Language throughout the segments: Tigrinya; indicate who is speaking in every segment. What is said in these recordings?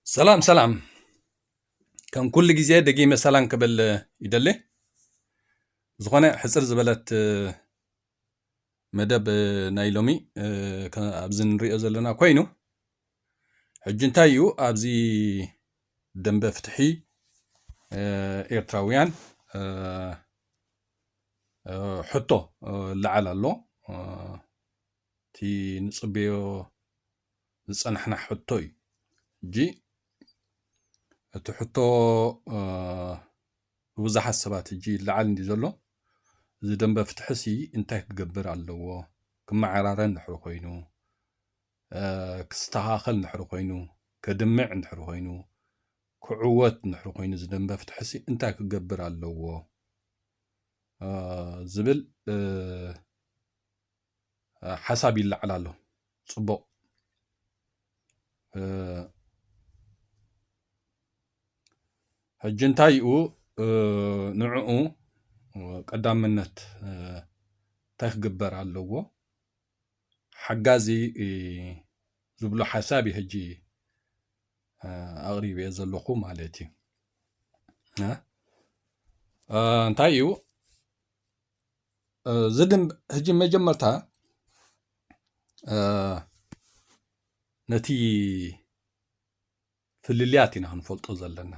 Speaker 1: ሰላም ሰላም ከም ኩሉ ግዜ ደጊመ ሰላም ክብል ይደሊ ዝኾነ ሕፅር ዝበለት መደብ ናይ ሎሚ ኣብዚ ንሪኦ ዘለና ኮይኑ ሕጂ እንታይ እዩ ኣብዚ ደንበ ፍትሒ ኤርትራውያን ሕቶ ላዓል ኣሎ እቲ ንፅበዮ ዝጸናሕና ሕቶ እዩ እጂ እቲ ሕቶ ብብዙሓት ሰባት እጂ ይለዓል እንዲ ዘሎ እዚ ደንበ ፍትሒ ሲ እንታይ ክገብር ኣለዎ ክመዓራረ እንድሕር ኮይኑ ክስተኻኸል እንድሕር ኮይኑ ከድምዕ እንድሕር ኮይኑ ክዕወት እንድሕር ኮይኑ እዚ ደንበ ፍትሒ ሲ እንታይ ክገብር ኣለዎ ዝብል ሓሳብ ይለዓል ኣሎ ፅቡቕ ሕጂ እንታይ ዩ ንዕኡ ቀዳምነት እንታይ ክግበር ኣለዎ ሓጋዚ ዝብሎ ሓሳብ ዩ ሕጂ ኣቕሪበ ዘለኹ ማለት ዩ እንታይ ዩ እዚ ግን ሕጂ መጀመርታ ነቲ ፍልልያት ኢና ክንፈልጦ ዘለና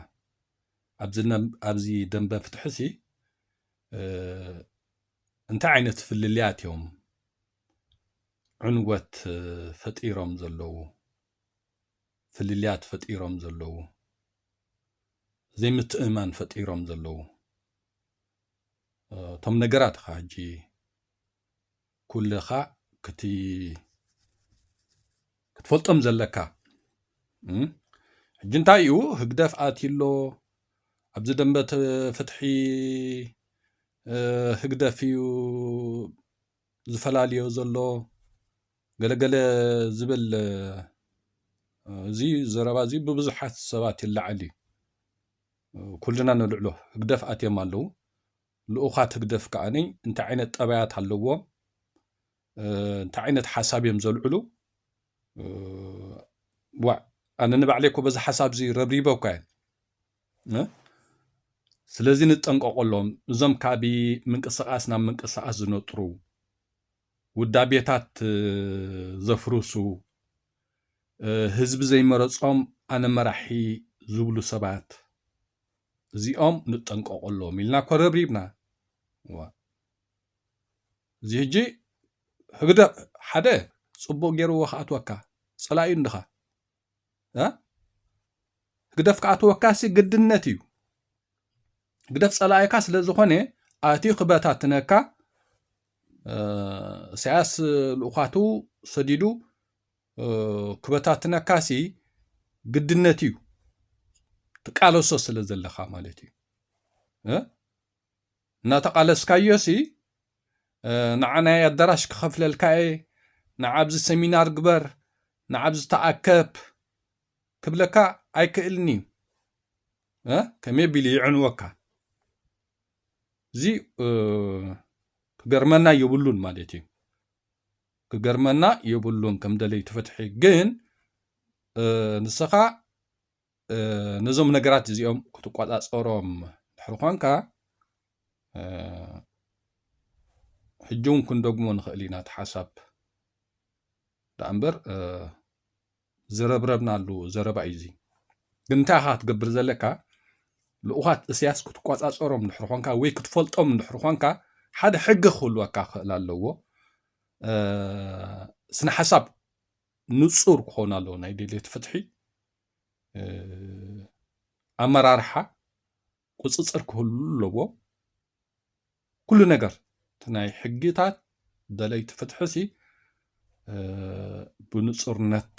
Speaker 1: ኣብዚ ደንበ ፍትሒ ሲ እንታይ ዓይነት ፍልልያት እዮም ዕንወት ፈጢሮም ዘለዉ ፍልልያት ፈጢሮም ዘለዉ ዘይምትእማን ፈጢሮም ዘለዉ እቶም ነገራት ኻ ሕጂ ኩልኻ ክቲ ክትፈልጦም ዘለካ ሕጂ እንታይ እዩ ህግደፍ ኣትሎ ኣብዚ ደንበ ፍትሒ ህግደፍ እዩ ዝፈላልዮ ዘሎ ገለገለ ዝብል እዚ ዘረባ እዚ ብብዙሓት ሰባት ይለዓል እዩ ኩልና ንልዕሎ ህግደፍ ኣትዮም ኣለዉ። ልኡኻት ህግደፍ ከኣ እንታይ ዓይነት ጠባያት ኣለዎም፣ እንታይ ዓይነት ሓሳብ እዮም ዘልዕሉ ዋእ ኣነ ንባዕለይ እኮ በዚ ሓሳብ እዚ ረብሪበ እኳ እየ ስለዚ ንጠንቀቆሎም እዞም ካብይ ምንቅስቃስ ናብ ምንቅስቃስ ዝነጥሩ ውዳቤታት ዘፍርሱ፣ ህዝቢ ዘይመረጾም ኣነ መራሒ ዝብሉ ሰባት እዚኦም ንጠንቀቐሎም ኢልና እኮ ረብሪብና። እዚ ሕጂ ህግደፍ ሓደ ጽቡቕ ገይርዎ ክኣትወካ ጸላኢኡ እንድኻ ህግደፍ ከዓ ተወካሲ ግድነት እዩ ህግደፍ ፀላኢካ ስለ ዝኾነ ኣትዩ ክበታትነካ ኢሳያስ ልኡኻቱ ሰዲዱ ክበታትነካ ሲ ግድነት እዩ ትቃለሶ ስለ ዘለካ ማለት እዩ እናተቓለስካዮሲ ንዓ ናይ ኣዳራሽ ክኸፍለልካ እየ፣ ንዓ ኣብዚ ሰሚናር ግበር፣ ንዓ ኣብዚ ተኣከብ ክብለካ ኣይክእልን እዩ። ከመይ ኣቢሉ ይዕንወካ? እዚ ክገርመና የብሉን ማለት እዩ። ክገርመና የብሉን ከም ደለይቲ ፍትሒ ግን ንስኻ ነዞም ነገራት እዚኦም ክትቆፃፀሮም ድሕሪ ኳንካ ሕጂ እውን ክንደግሞ ንኽእል ኢና እቲ ሓሳብ ደኣ እምበር ዝረብረብናሉ ዘረባ እዩ እዚ ግን እንታይ ኢኻ ክትገብር ዘለካ ልኡኻት እስያስ ክትቆፃፀሮም ድሕሪ ኳንካ ወይ ክትፈልጦም ድሕሪ ኳንካ ሓደ ሕጊ ክህልወካ ክኽእል ኣለዎ ስነ ሓሳብ ንፁር ክኾኑ ኣለዎ ናይ ድሌት ፍትሒ ኣመራርሓ ቁፅፅር ክህሉ ኣለዎ። ኩሉ ነገር እቲ ናይ ሕግታት ደለይቲ ፍትሒ ሲ ብንፁርነት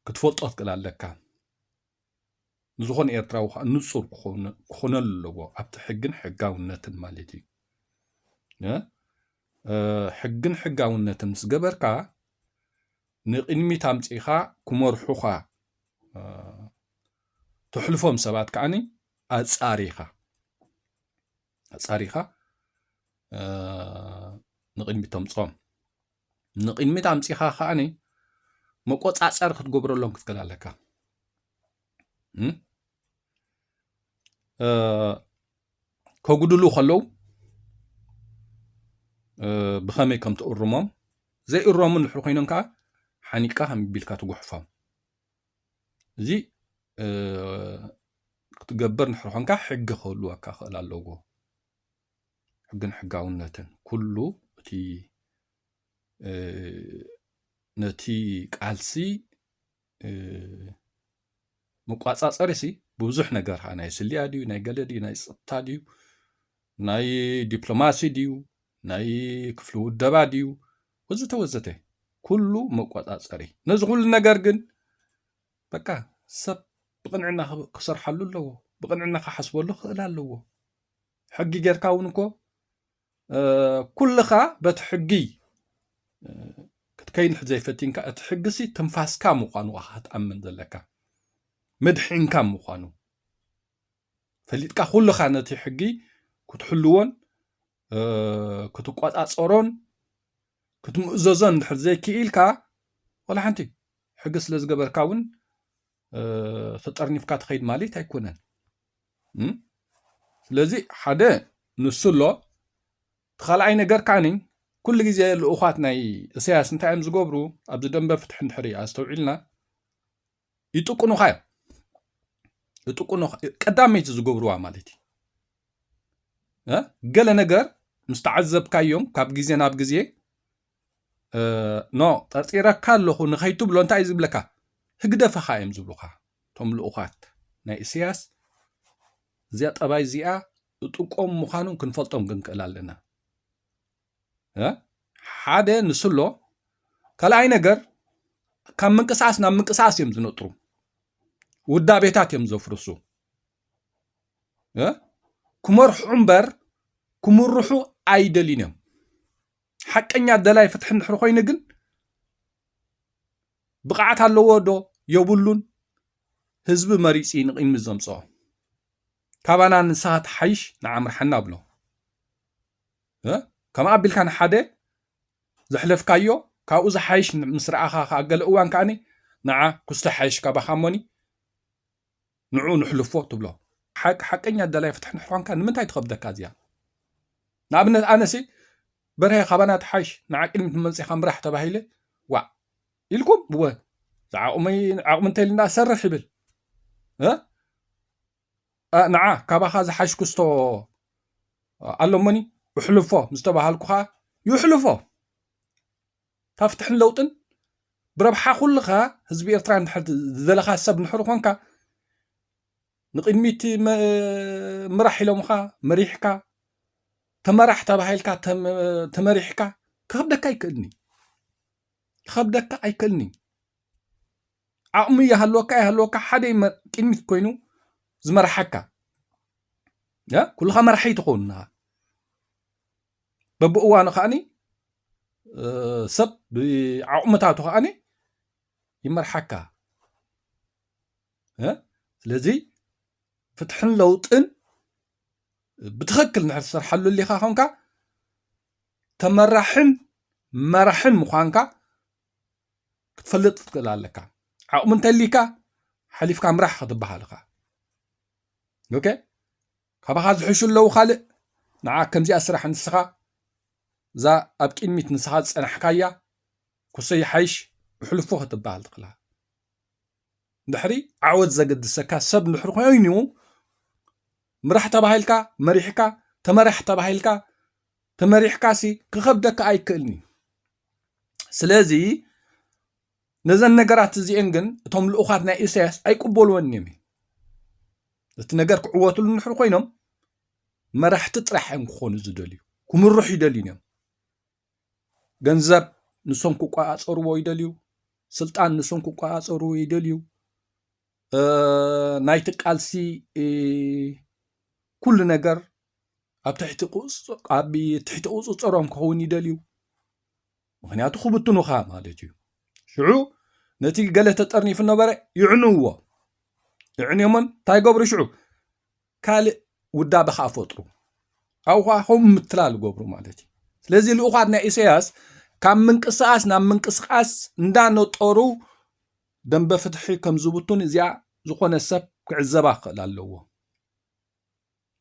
Speaker 1: ክትፈልጦ ትክእል ኣለካ። ንዝኾነ ኤርትራዊ ከኣ ንጹር ክኾነሉ ኣለዎ ኣብቲ ሕግን ሕጋውነትን ማለት እዩ ሕግን ሕጋውነትን ምስ ገበርካ ንቕድሚት ኣምጺኻ ክመርሑኻ ተሕልፎም ሰባት ከዓኒ ኣጻሪኻ ኣጻሪኻ ንቕድሚት ተምጾም ንቕድሚት ኣምፂኻ ከዓኒ መቆፃፀሪ ክትገብረሎም ክትክእል ኣለካ ከጉድሉ ከለዉ ብኸመይ ከም ትእርሞም ዘይእረሙ ንድሕሪ ኮይኖም ከዓ ሓኒቅካ ከም ቢልካ ትጉሕፎም እዚ ክትገብር ንድሕሪ ኮንካ ሕጊ ክህልወካ ክእል ኣለዎ ሕግን ሕጋውነትን ኩሉ እቲ ነቲ ቃልሲ መቋፃፀሪ ሲ ብብዙሕ ነገር ካ ናይ ስልያ ድዩ ናይ ገለ ድዩ ናይ ፀጥታ ድዩ ናይ ዲፕሎማሲ ድዩ ናይ ክፍሊ ውደባ ድዩ ወዘተ ወዘተ ኩሉ መቆፃፀሪ ነዚ ኩሉ ነገር ግን በቃ ሰብ ብቕንዕና ክሰርሓሉ ኣለዎ ብቕንዕና ክሓስበሉ ክኽእል ኣለዎ ሕጊ ጌርካ እውን እኮ ኩልኻ በቲ ሕጊ ክትከይንሕ ዘይፈቲንካ እቲ ሕግሲ ትንፋስካ ምዃኑ ክትኣምን ዘለካ ምድሒንካ ምዃኑ ፈሊጥካ ኩልኻ ነቲ ሕጊ ክትሕልዎን ክትቆፃፀሮን ክትምእዘዞን እንድሕር ዘይክኢልካ ወላ ሓንቲ ሕጊ ስለ ዝገበርካ እውን ተጠርኒፍካ ትኸይድ ማለት ኣይኮነን ስለዚ ሓደ ንሱ ኣሎ እቲ ካልኣይ ነገር ካኒ ኩሉ ግዜ ልኡኻት ናይ እሰያስ እንታይ እዮም ዝገብሩ ኣብዚ ደንበ ፍትሒ እንድሕሪ ኣስተውዒልና ይጥቁኑኻ እዮም ይጥቁኑ ቀዳመይቲ ዝገብርዋ ማለት እዩ ገለ ነገር ምስ ተዓዘብካዮም ካብ ግዜ ናብ ግዜ ኖ ጠርጢረካ ኣለኹ ንኸይትብሎ እንታይ እዩ ዝብለካ ህግደፈኻ እዮም ዝብሉኻ እቶም ልኡኻት ናይ እስያስ እዚኣ ጠባይ እዚኣ እጥቆም ምዃኖም ክንፈልጦም ክንክእል ኣለና ሓደ ንስሎ ካልኣይ ነገር ካብ ምንቅስቃስ ናብ ምንቅስቃስ እዮም ዝነጥሩ ውዳቤታት እዮም ዘፍርሱ ክመርሑ እምበር ክምርሑ ኣይደልዩን እዮም ሓቀኛ ደላይ ፍትሒ እንድሕር ኮይኑ ግን ብቕዓት ኣለዎ ዶ የብሉን ህዝቢ መሪፂ ንቕድሚ ዘምፅኦ ካባና ንስኻ ትሓይሽ ንዓምርሓና ኣብሎ ከም ኣቢልካ ንሓደ ዘሕለፍካዮ ካብኡ ዝሓይሽ ምስ ረኣኻ ከዓ ገለ እዋን ከዓኒ ንዓ ኩስቶ ሓይሽ ካባኻ እሞኒ ንዑ ንሕልፎ ትብሎ ሓቂ ሓቀኛ ደላይ ፍትሒ ንሕኳንካ ንምንታይ ትኸብደካ እዚኣ ንኣብነት ኣነሲ በርሀ ካባና ትሓይሽ ንዓ ቅድሚት ንመንፅኻ ምራሕ ተባሂለ ዋዕ ኢልኩም እወ ዝዓቕመይ ዓቕሚ እንተልና ሰርሕ ይብል ንዓ ካባኻ ዝሓሽ ክስቶ ኣሎሞኒ እሕልፎ ምስተባሃልኩ ከዓ ይሕልፎ እታ ፍትሕን ለውጥን ብረብሓ ኩልኻ ህዝቢ ኤርትራ እንድሕር ዝደለኻ ሰብ እንድሕር ኾንካ ንቕድሚት ምራሕ ኢሎምኻ መሪሕካ ተመራሕ ተባሂልካ ተመሪሕካ ክኸብደካ ኣይክእልን እዩ ክኸብደካ ኣይክእልን እዩ ዓቕሚ ይሃለወካ ይሃለወካ ሓደ ቅድሚት ኮይኑ ዝመርሓካ ኩልኻ መራሒ ትኸውን በብእዋኑ ከዓኒ ሰብ ብዓቕምታቱ ከዓኒ ይመርሓካ ስለዚ ፍትሕን ለውጥን ብትኽክል ንድሕር ትሰርሓሉ ኣሊኻ ኮንካ ተመራሕን መራሕን ምዃንካ ክትፈልጥ ክትክእል ኣለካ ዓቕሚ እንተሊካ ሓሊፍካ ምራሕ ክትበሃል ኢኻ ኦኬ ካባኻ ዝሕሹ ኣለዉ ካልእ ንዓ ከምዚኣ ስራሕ ንስኻ እዛ ኣብ ቂድሚት ንስኻ ዝጸናሕካያ ኩሰ ይሓይሽ ብሕሉፉ ክትበሃል ትኽላ ድሕሪ ዓወት ዘገድሰካ ሰብ ድሕሪ ኮይኑ ምራሕ ተባሂልካ መሪሕካ ተመራሕ ተባሂልካ ተመሪሕካሲ ክኸብደካ ኣይክእልን እዩ ስለዚ ነዘን ነገራት እዚኤን ግን እቶም ልኡኻት ናይ ኢሳያስ ኣይቅበልዎን እዮም እዩ እቲ ነገር ክዕወትሉ ንድሕር ኮይኖም መራሕቲ ጥራሕ እዮም ክኾኑ ዝደልዩ ክምርሑ ይደልዩን እዮም ገንዘብ ንሶም ክቆፃፀርዎ ይደልዩ ስልጣን ንሶም ክቆፃፀርዎ ይደልዩ ናይቲ ቃልሲ ኩሉ ነገር ኣብ ትሕቲ ቁፅፅሮም ክኸውን ይደልዩ ምኽንያቱ ክብትኑኻ ማለት እዩ ሽዑ ነቲ ገለ ተጠርኒፉ ነበረ ይዕንዎ እዕንዮሞም እንታይ ገብሩ ሽዑ ካልእ ውዳበ ከዓ ፈጥሩ ኣብኡ ከዓ ከምኡ ምትላል ገብሩ ማለት እዩ ስለዚ ልኡኻት ናይ ኢሳያስ ካብ ምንቅስቃስ ናብ ምንቅስቃስ እንዳነጠሩ ደንበ ፍትሒ ከም ዝብቱን እዚኣ ዝኾነ ሰብ ክዕዘባ ክኽእል ኣለዎ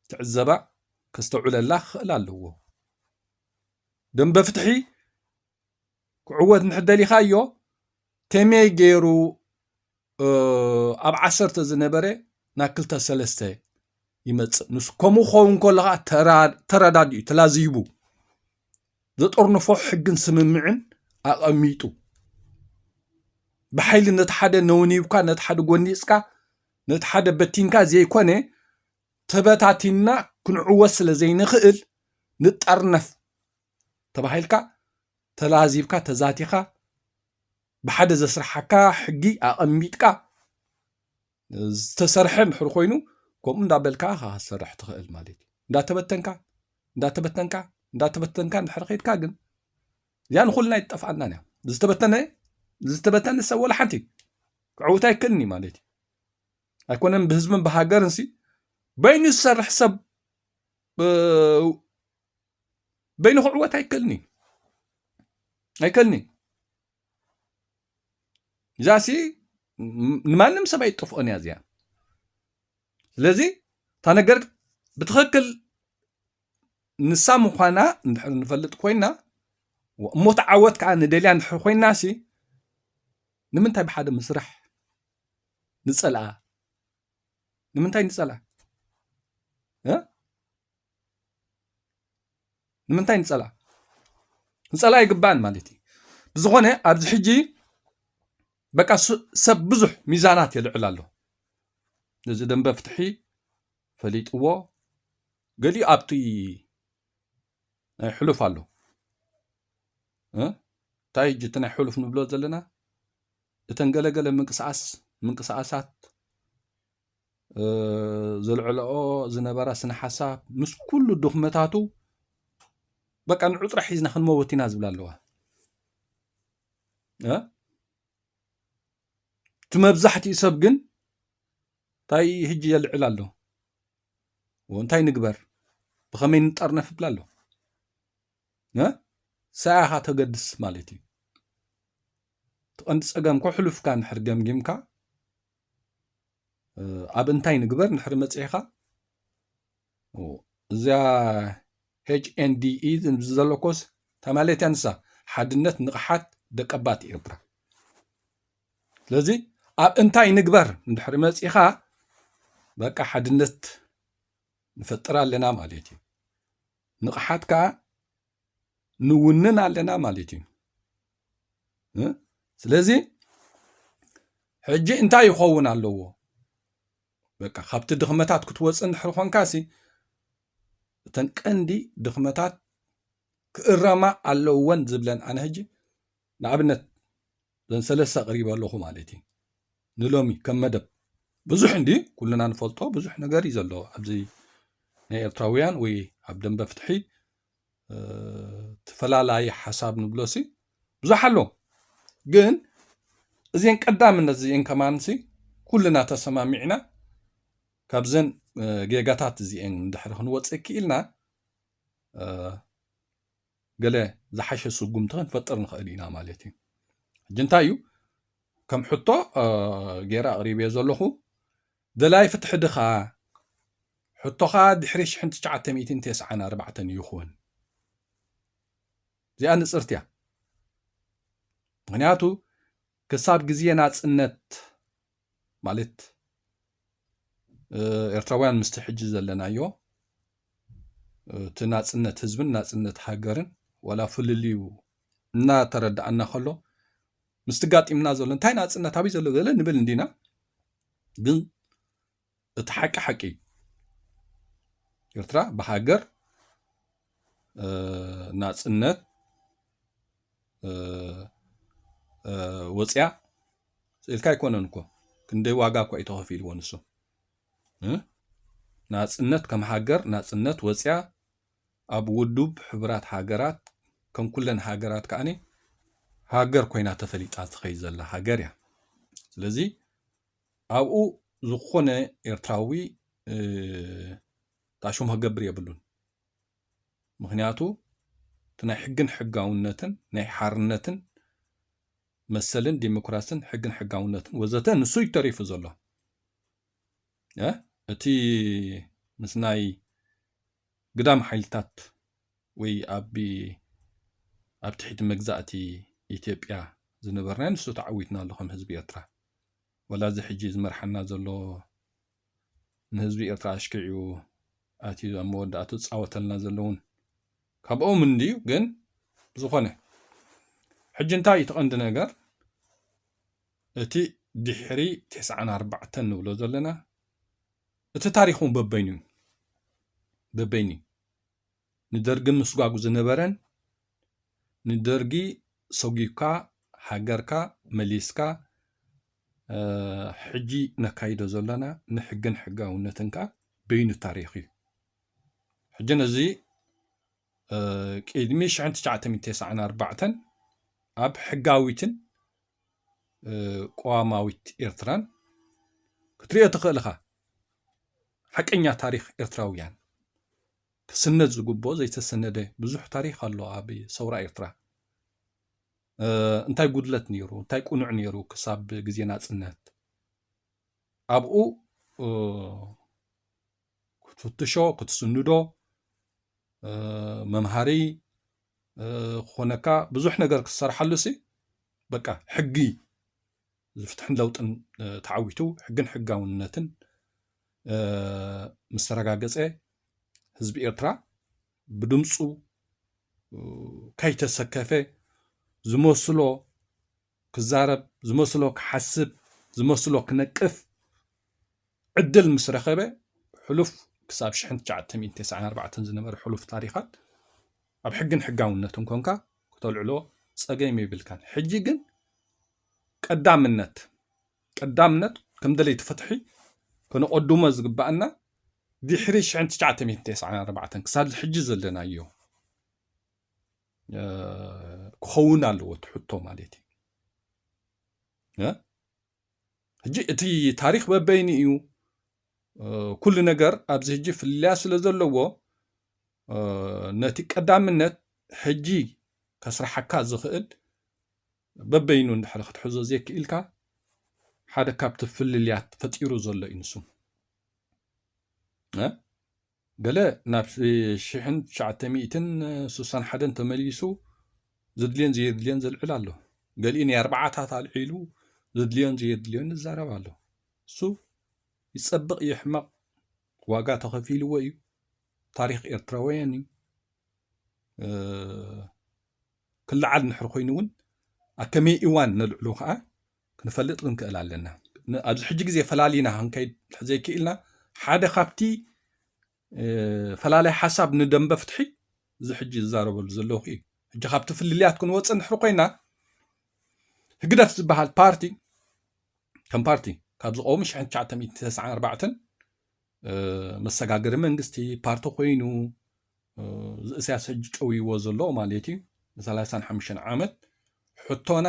Speaker 1: ክትዕዘባ ከስተውዕለላ ክኽእል ኣለዎ። ደንበ ፍትሒ ክዕወት እንተደሊኻዮ ከመይ ገይሩ ኣብ ዓሰርተ ዝነበረ ናብ ክልተ ሰለስተ ይመፅእ ንሱ ከምኡ ክኸውን ከሎ ከዓ ተረዳዲኡ ተላዚቡ ዘጠርንፎ ሕግን ስምምዕን ኣቐሚጡ ብሓይሊ ነቲ ሓደ ነውኒብካ ነቲ ሓደ ጎኒፅካ ነቲ ሓደ በቲንካ ዘይኮነ ተበታቲንና ክንዕወት ስለ ዘይንኽእል ንጠርነፍ ተባሂልካ ተላዚብካ ተዛቲኻ ብሓደ ዘስርሓካ ሕጊ ኣቐሚጥካ ዝተሰርሐ እንድሕር ኮይኑ ከምኡ እንዳበልካ ኢኻ ክትሰርሕ ትኽእል ማለት እዩ እንዳተበተንካ እንዳተበተንካ እንዳተበተንካ እንድሕር ከድካ ግን እዚኣ ንኹልና ይጠፍኣና እያ ዝተበተነ ዝተበተነ ሰብ ወላ ሓንቲ ክዕውት ኣይክእልን እዩ ማለት እዩ ኣይኮነን ብህዝብን ብሃገርን ሲ በይኑ ዝሰርሕ ሰብ በይኑ ክዕወት ኣይክእልን እዩ ኣይክእልን እዩ እዛ ሲ ንማንም ሰብ ኣይጠፍኦን እያ እዚኣ ስለዚ እታ ነገር ብትክክል ንሳ ምዃና እንድሕር ንፈልጥ ኮይና እሞት ዓወት ከዓ ንደልያ እንድሕር ኮይና ሲ ንምንታይ ብሓደ ምስራሕ ንፀልኣ ንምንታይ ንፀልኣ ንምንታይ ንፀልኣ ንፀልኣ ይግባእን ማለት እዩ ብዝኾነ ኣብዚ ሕጂ በቃ ሰብ ብዙሕ ሚዛናት የልዕል ኣሎ ነዚ ደንበ ፍትሒ ፈሊጥዎ ገሊኡ ኣብቲ ናይ ሕሉፍ ኣሎ እንታይ ሕጂ እቲ ናይ ሕሉፍ ንብሎ ዘለና እተን ገለገለ ምንቅስቃስ ምንቅስቃሳት ዘልዕለኦ ዝነበራ ስነ ሓሳብ ምስ ኩሉ ድኽመታቱ በቃ ንዑጥራ ሒዝና ክንመወት ኢና ዝብላ ኣለዋ እቲ መብዛሕትኡ ሰብ ግን እንታይ ህጂ የልዕል ኣሎ እንታይ ንግበር ብኸመይ ንጠርነፍ ይብላ ኣሎ ሰያኻ ተገድስ ማለት እዩ ትቐንዲ ፀገም ኮ ሕሉፍካ ንድሕር ገምጊምካ ኣብ እንታይ ንግበር ንድሕር መፅኢኻ እዚያ ኤችኤንዲኢ ዘለኮስ ተማለትያ ንሳ ሓድነት ንቕሓት ደቀባት ኤርትራ ስለዚ ኣብ እንታይ ንግበር እንድሕሪ መፂኻ በቃ ሓድነት ንፈጥር ኣለና ማለት እዩ ንቕሓት ከዓ ንውንን ኣለና ማለት እዩ ስለዚ ሕጂ እንታይ ይኸውን ኣለዎ በቃ ካብቲ ድኽመታት ክትወፅ እንድሕሪ ኮንካ ሲ እተን ቀንዲ ድኽመታት ክእረማ ኣለወን ዝብለን ኣነ ሕጂ ንኣብነት ዘን ሰለስተ ኣቅሪበ ኣለኹ ማለት እዩ ንሎሚ ከም መደብ ብዙሕ እንዲ ኩልና ንፈልጦ ብዙሕ ነገር እዩ ዘሎ ኣብዚ ናይ ኤርትራውያን ወይ ኣብ ደንበ ፍትሒ ተፈላለየ ሓሳብ ንብሎሲ ብዙሕ ኣሎ ግን እዚን ቀዳምነት እዚኤን ከማንሲ ኩልና ተሰማሚዕና ካብዘን ጌጋታት እዚኤን ድሕሪ ክንወፅእ ክኢልና ገለ ዝሓሸ ስጉምቲ ክንፈጥር ንኽእል ኢና ማለት እዩ። ሕጂ እንታይ እዩ ከም ሕቶ ገይረ ኣቕሪበዮ ዘለኹ ደላይ ፍትሒ ድኻ ሕቶኻ ድሕሪ ሽሕን ትሽዓተ ሚእትን ቴስዓን ኣርባዕተን ይኹን እዚኣ ንፅርቲ እያ ምክንያቱ ክሳብ ግዜ ናፅነት ማለት ኤርትራውያን ምስቲ ሕጂ ዘለናዮ እቲ ናጽነት ህዝብን ናጽነት ሃገርን ዋላ ፍልልዩ እናተረዳኣና ከሎ ምስቲ ጋጢምና ዘሎ እንታይ ናጽነት ኣብይ ዘሎ ዘለ ንብል እንዲና ግን እቲ ሓቂ ሓቂ እዩ ኤርትራ ብሃገር ናጽነት ወፅያ ስኢልካ ኣይኮነን እኮ ክንደይ ዋጋ እኳ እዩ ተኸፊልዎ ንሱ ናፅነት ከም ሃገር ናፅነት ወፅያ ኣብ ውዱብ ሕቡራት ሃገራት ከም ኩለን ሃገራት ከዓኒ ሃገር ኮይና ተፈሊጣ ትኸይ ዘላ ሃገር እያ ስለዚ ኣብኡ ዝኾነ ኤርትራዊ ጣሽሙ ክገብር የብሉን። ምክንያቱ እቲ ናይ ሕግን ሕጋውነትን ናይ ሓርነትን መሰልን ዲሞክራስን ሕግን ሕጋውነትን ወዘተ ንሱ እዩ ተሪፉ ዘሎ እቲ ምስ ናይ ግዳም ሓይልታት ወይ ኣብ ኣብ ትሕቲ መግዛእቲ ኢትዮጵያ ዝነበርናዮ ንሱ ተዓዊትናሉ ከም ህዝቢ ኤርትራ ወላ እዚ ሕጂ ዝመርሓና ዘሎ ንህዝቢ ኤርትራ ኣሽኪዑ ኣትዩ ኣብ መወዳእቱ ዝጻወተልና ዘሎ እውን ካብኦም እንድዩ ግን ዝኾነ ሕጂ እንታይ እቲ ቀንዲ ነገር እቲ ድሕሪ 94 ንብሎ ዘለና እቲ ታሪኽ እውን በበይኑ እዩ። በበይኑ እዩ። ንደርጊ ምስጓጉ ዝነበረን ንደርጊ ሰጒግካ ሃገርካ መሊስካ ሕጂ ነካይዶ ዘለና ንሕግን ሕጋውነትን ከኣ በይኑ ታሪኽ እዩ። ሕጂ ነዚ ቅድሚ 1994 ኣብ ሕጋዊትን ቅዋማዊት ኤርትራን ክትሪኦ ትኽእል እኻ። ሓቀኛ ታሪኽ ኤርትራውያን ክስነድ ዝግብኦ ዘይተሰነደ ብዙሕ ታሪኽ ኣሎ ኣብ ሰውራ ኤርትራ። እንታይ ጉድለት ነይሩ እንታይ ቁኑዕ ነይሩ ክሳብ ግዜ ናጽነት ኣብኡ ክትፍትሾ ክትስንዶ መምሃሪ ክኾነካ ብዙሕ ነገር ክትሰርሓሉ ሲ በቃ ሕጊ ዝፍትሕን ለውጥን ተዓዊቱ ሕግን ሕጋውነትን ምስ ተረጋገፀ ህዝቢ ኤርትራ ብድምፁ ከይተሰከፈ ዝመስሎ ክዛረብ ዝመስሎ ክሓስብ ዝመስሎ ክነቅፍ ዕድል ምስ ረኸበ ሕሉፍ ክሳብ ሽሕን ትሽዓተ ሚእትን ተስዓን ኣርባዕተን ዝነበረ ሕሉፍ ታሪኻት ኣብ ሕግን ሕጋውነትን ኮንካ ክተልዕሎ ጸገም የብልካን። ሕጂ ግን ቀዳምነት ቀዳምነት ከም ደለይቲ ፍትሒ ከነቐድሞ ዝግባኣና ድሕሪ ሽሕን ትሽዓተ ሚእትን ተስዓን ኣርባዕተን ክሳብ ሕጂ ዘለናዮ ክኸውን ኣለዎ እቲ ሕቶ ማለት እዩ ሕጂ እቲ ታሪክ በበይኑ እዩ ኩሉ ነገር ኣብዚ ሕጂ ፍልልያ ስለ ዘለዎ ነቲ ቀዳምነት ሕጂ ከስራሓካ ዝኽእል በበይኑ እንድሕር ክትሕዞ ዘይክኢልካ ሓደ ካብቲ ፍልልያት ፈጢሩ ዘሎ እዩ ንሱ ገለ ናብ ሽሕን ትሽዓተ ሚእትን ሱሳን ሓደን ተመሊሱ ዘድልዮን ዘየድልዮን ዘልዕል ኣሎ። ገሊኡ ናይ ኣርባዓታት ኣልዒሉ ዘድልዮን ዘየድልዮን ይዛረብ ኣሎ። እሱ ይጸብቕ ይሕመቕ ዋጋ ተኸፊልዎ እዩ። ታሪኽ ኤርትራውያን እዩ። ክለዓል እንድሕር ኮይኑ እውን ኣብ ከመይ እዋን ነልዕሎ ከዓ ክንፈልጥ ክንክእል ኣለና። ኣብዚ ሕጂ ግዜ ፈላሊና ክንከይድ እንተዘይክኢልና ሓደ ካብቲ ፈላላይ ሓሳብ ንደንበ ፍትሒ እዚ ሕጂ ዝዛረበሉ ዘለኹ እዩ። ሕጂ ካብቲ ፍልልያት ክንወፅእ ንድሕሪ ኮይና ህግደፍ ዝበሃል ፓርቲ ከም ፓርቲ ካብ ዝቐውሙ 1994 መሰጋገሪ መንግስቲ ፓርቲ ኮይኑ እሳያስ ሕጂ ጨውይዎ ዘሎ ማለት እዩ ንሰላሳን ሓሙሽተን ዓመት ሕቶና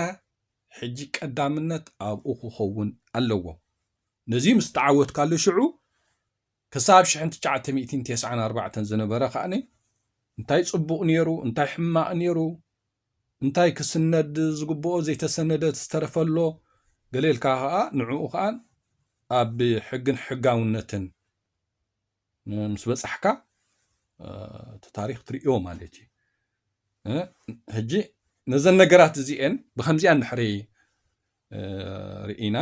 Speaker 1: ሕጂ ቀዳምነት ኣብኡ ክኸውን ኣለዎ። ነዚ ምስ ተዓወትካሉ ሽዑ ክሳብ ሽሕን ትሽዓተ ሚእቲን ቴስዓን ኣርባዕተን ዝነበረ ከኣ እንታይ ጽቡቕ ነይሩ እንታይ ሕማቕ ነይሩ እንታይ ክስነድ ዝግብኦ ዘይተሰነደ ዝተረፈ ኣሎ ገለ ኢልካ ከኣ ንዕኡ ከኣ ኣብ ሕግን ሕጋውነትን ምስ በጻሕካ እቲ ታሪክ ትርእዮ ማለት እዩ ሕጂ ነዘን ነገራት እዚኤን ብከምዚኣ እንድሕሪ ርኢና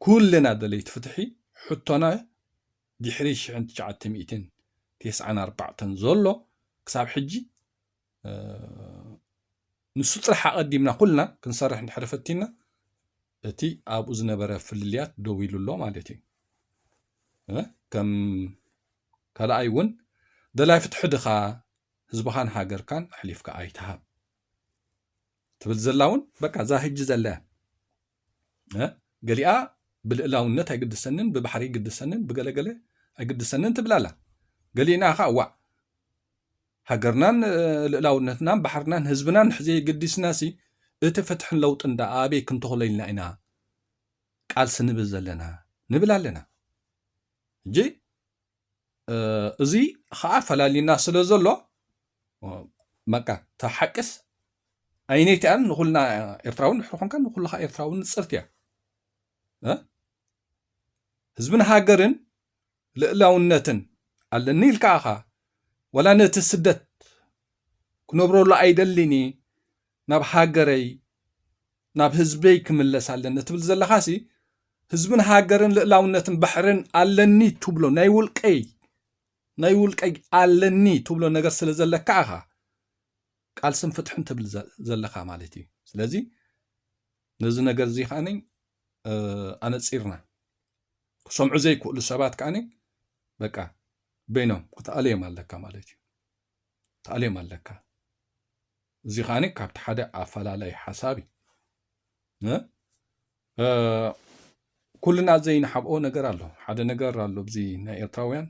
Speaker 1: ኩልና ደለይቲ ፍትሒ ሕቶና ድሕሪ ሽሕን ትሽዓተ ሚእትን ቴስዓን ኣርባዕተን ዘሎ ክሳብ ሕጂ ንሱ ጥራሕ ኣቐዲምና ኩልና ክንሰርሕ እንድሕር ፈቲና እቲ ኣብኡ ዝነበረ ፍልልያት ደው ኢሉ ኣሎ ማለት እዩ ከም ካልኣይ እውን ደላይ ፍትሒ ድኻ ህዝብኻን ሃገርካን ኣሕሊፍካ ኣይትሃብ ትብል ዘላ እውን በቃ እዛ ህጂ ዘለ ገሊኣ ብልእላውነት ኣይግድሰንን ብባሕሪ ይግድሰንን ብገለገለ ኣይግድሰንን ትብላላ ገሊእና ከዓ ዋዕ ሃገርናን ልእላውነትናን ባሕርናን ህዝብናን ንሕዘየገዲስናሲ እቲ ፍትሕን ለውጥን ደኣ ኣበይ ክንተኽሎ ኢልና ኢና ቃልሲ ንብል ዘለና ንብል ኣለና እጂ እዚ ኸዓ ፈላሊና ስለ ዘሎ በቃ እታ ሓቅስ ኣይነይቲ እያን ንኹልና ኤርትራውን ድሕሪ ኮንካ ንኹልኻ ኤርትራውን ንፅርቲ እያ ህዝብን ሃገርን ልእላውነትን ኣለኒ ኢልካ ኣኻ ወላ ነቲ ስደት ክነብረሉ ኣይደሊኒ ናብ ሃገረይ ናብ ህዝበይ ክምለስ ኣለኒ ትብል ዘለኻሲ ህዝብን ሃገርን ልእላውነትን ባሕርን ኣለኒ ትብሎ ናይ ውልቀይ ናይ ውልቀይ ኣለኒ ትብሎ ነገር ስለ ዘለካ ኣኻ ቃልስን ፍትሕን ትብል ዘለካ ማለት እዩ ስለዚ ነዚ ነገር እዚ ከዓነኝ ኣነፂርና ክሰምዑ ዘይክእሉ ሰባት ከዓኒ በቃ በይኖም ክትኣልዮም ኣለካ ማለት እዩ ትኣልዮም ኣለካ እዚ ከዓኒ ካብቲ ሓደ ኣፈላላይ ሓሳብ እዩ ኩልና ዘይንሓብኦ ነገር ኣሎ ሓደ ነገር ኣሎ እዚ ናይ ኤርትራውያን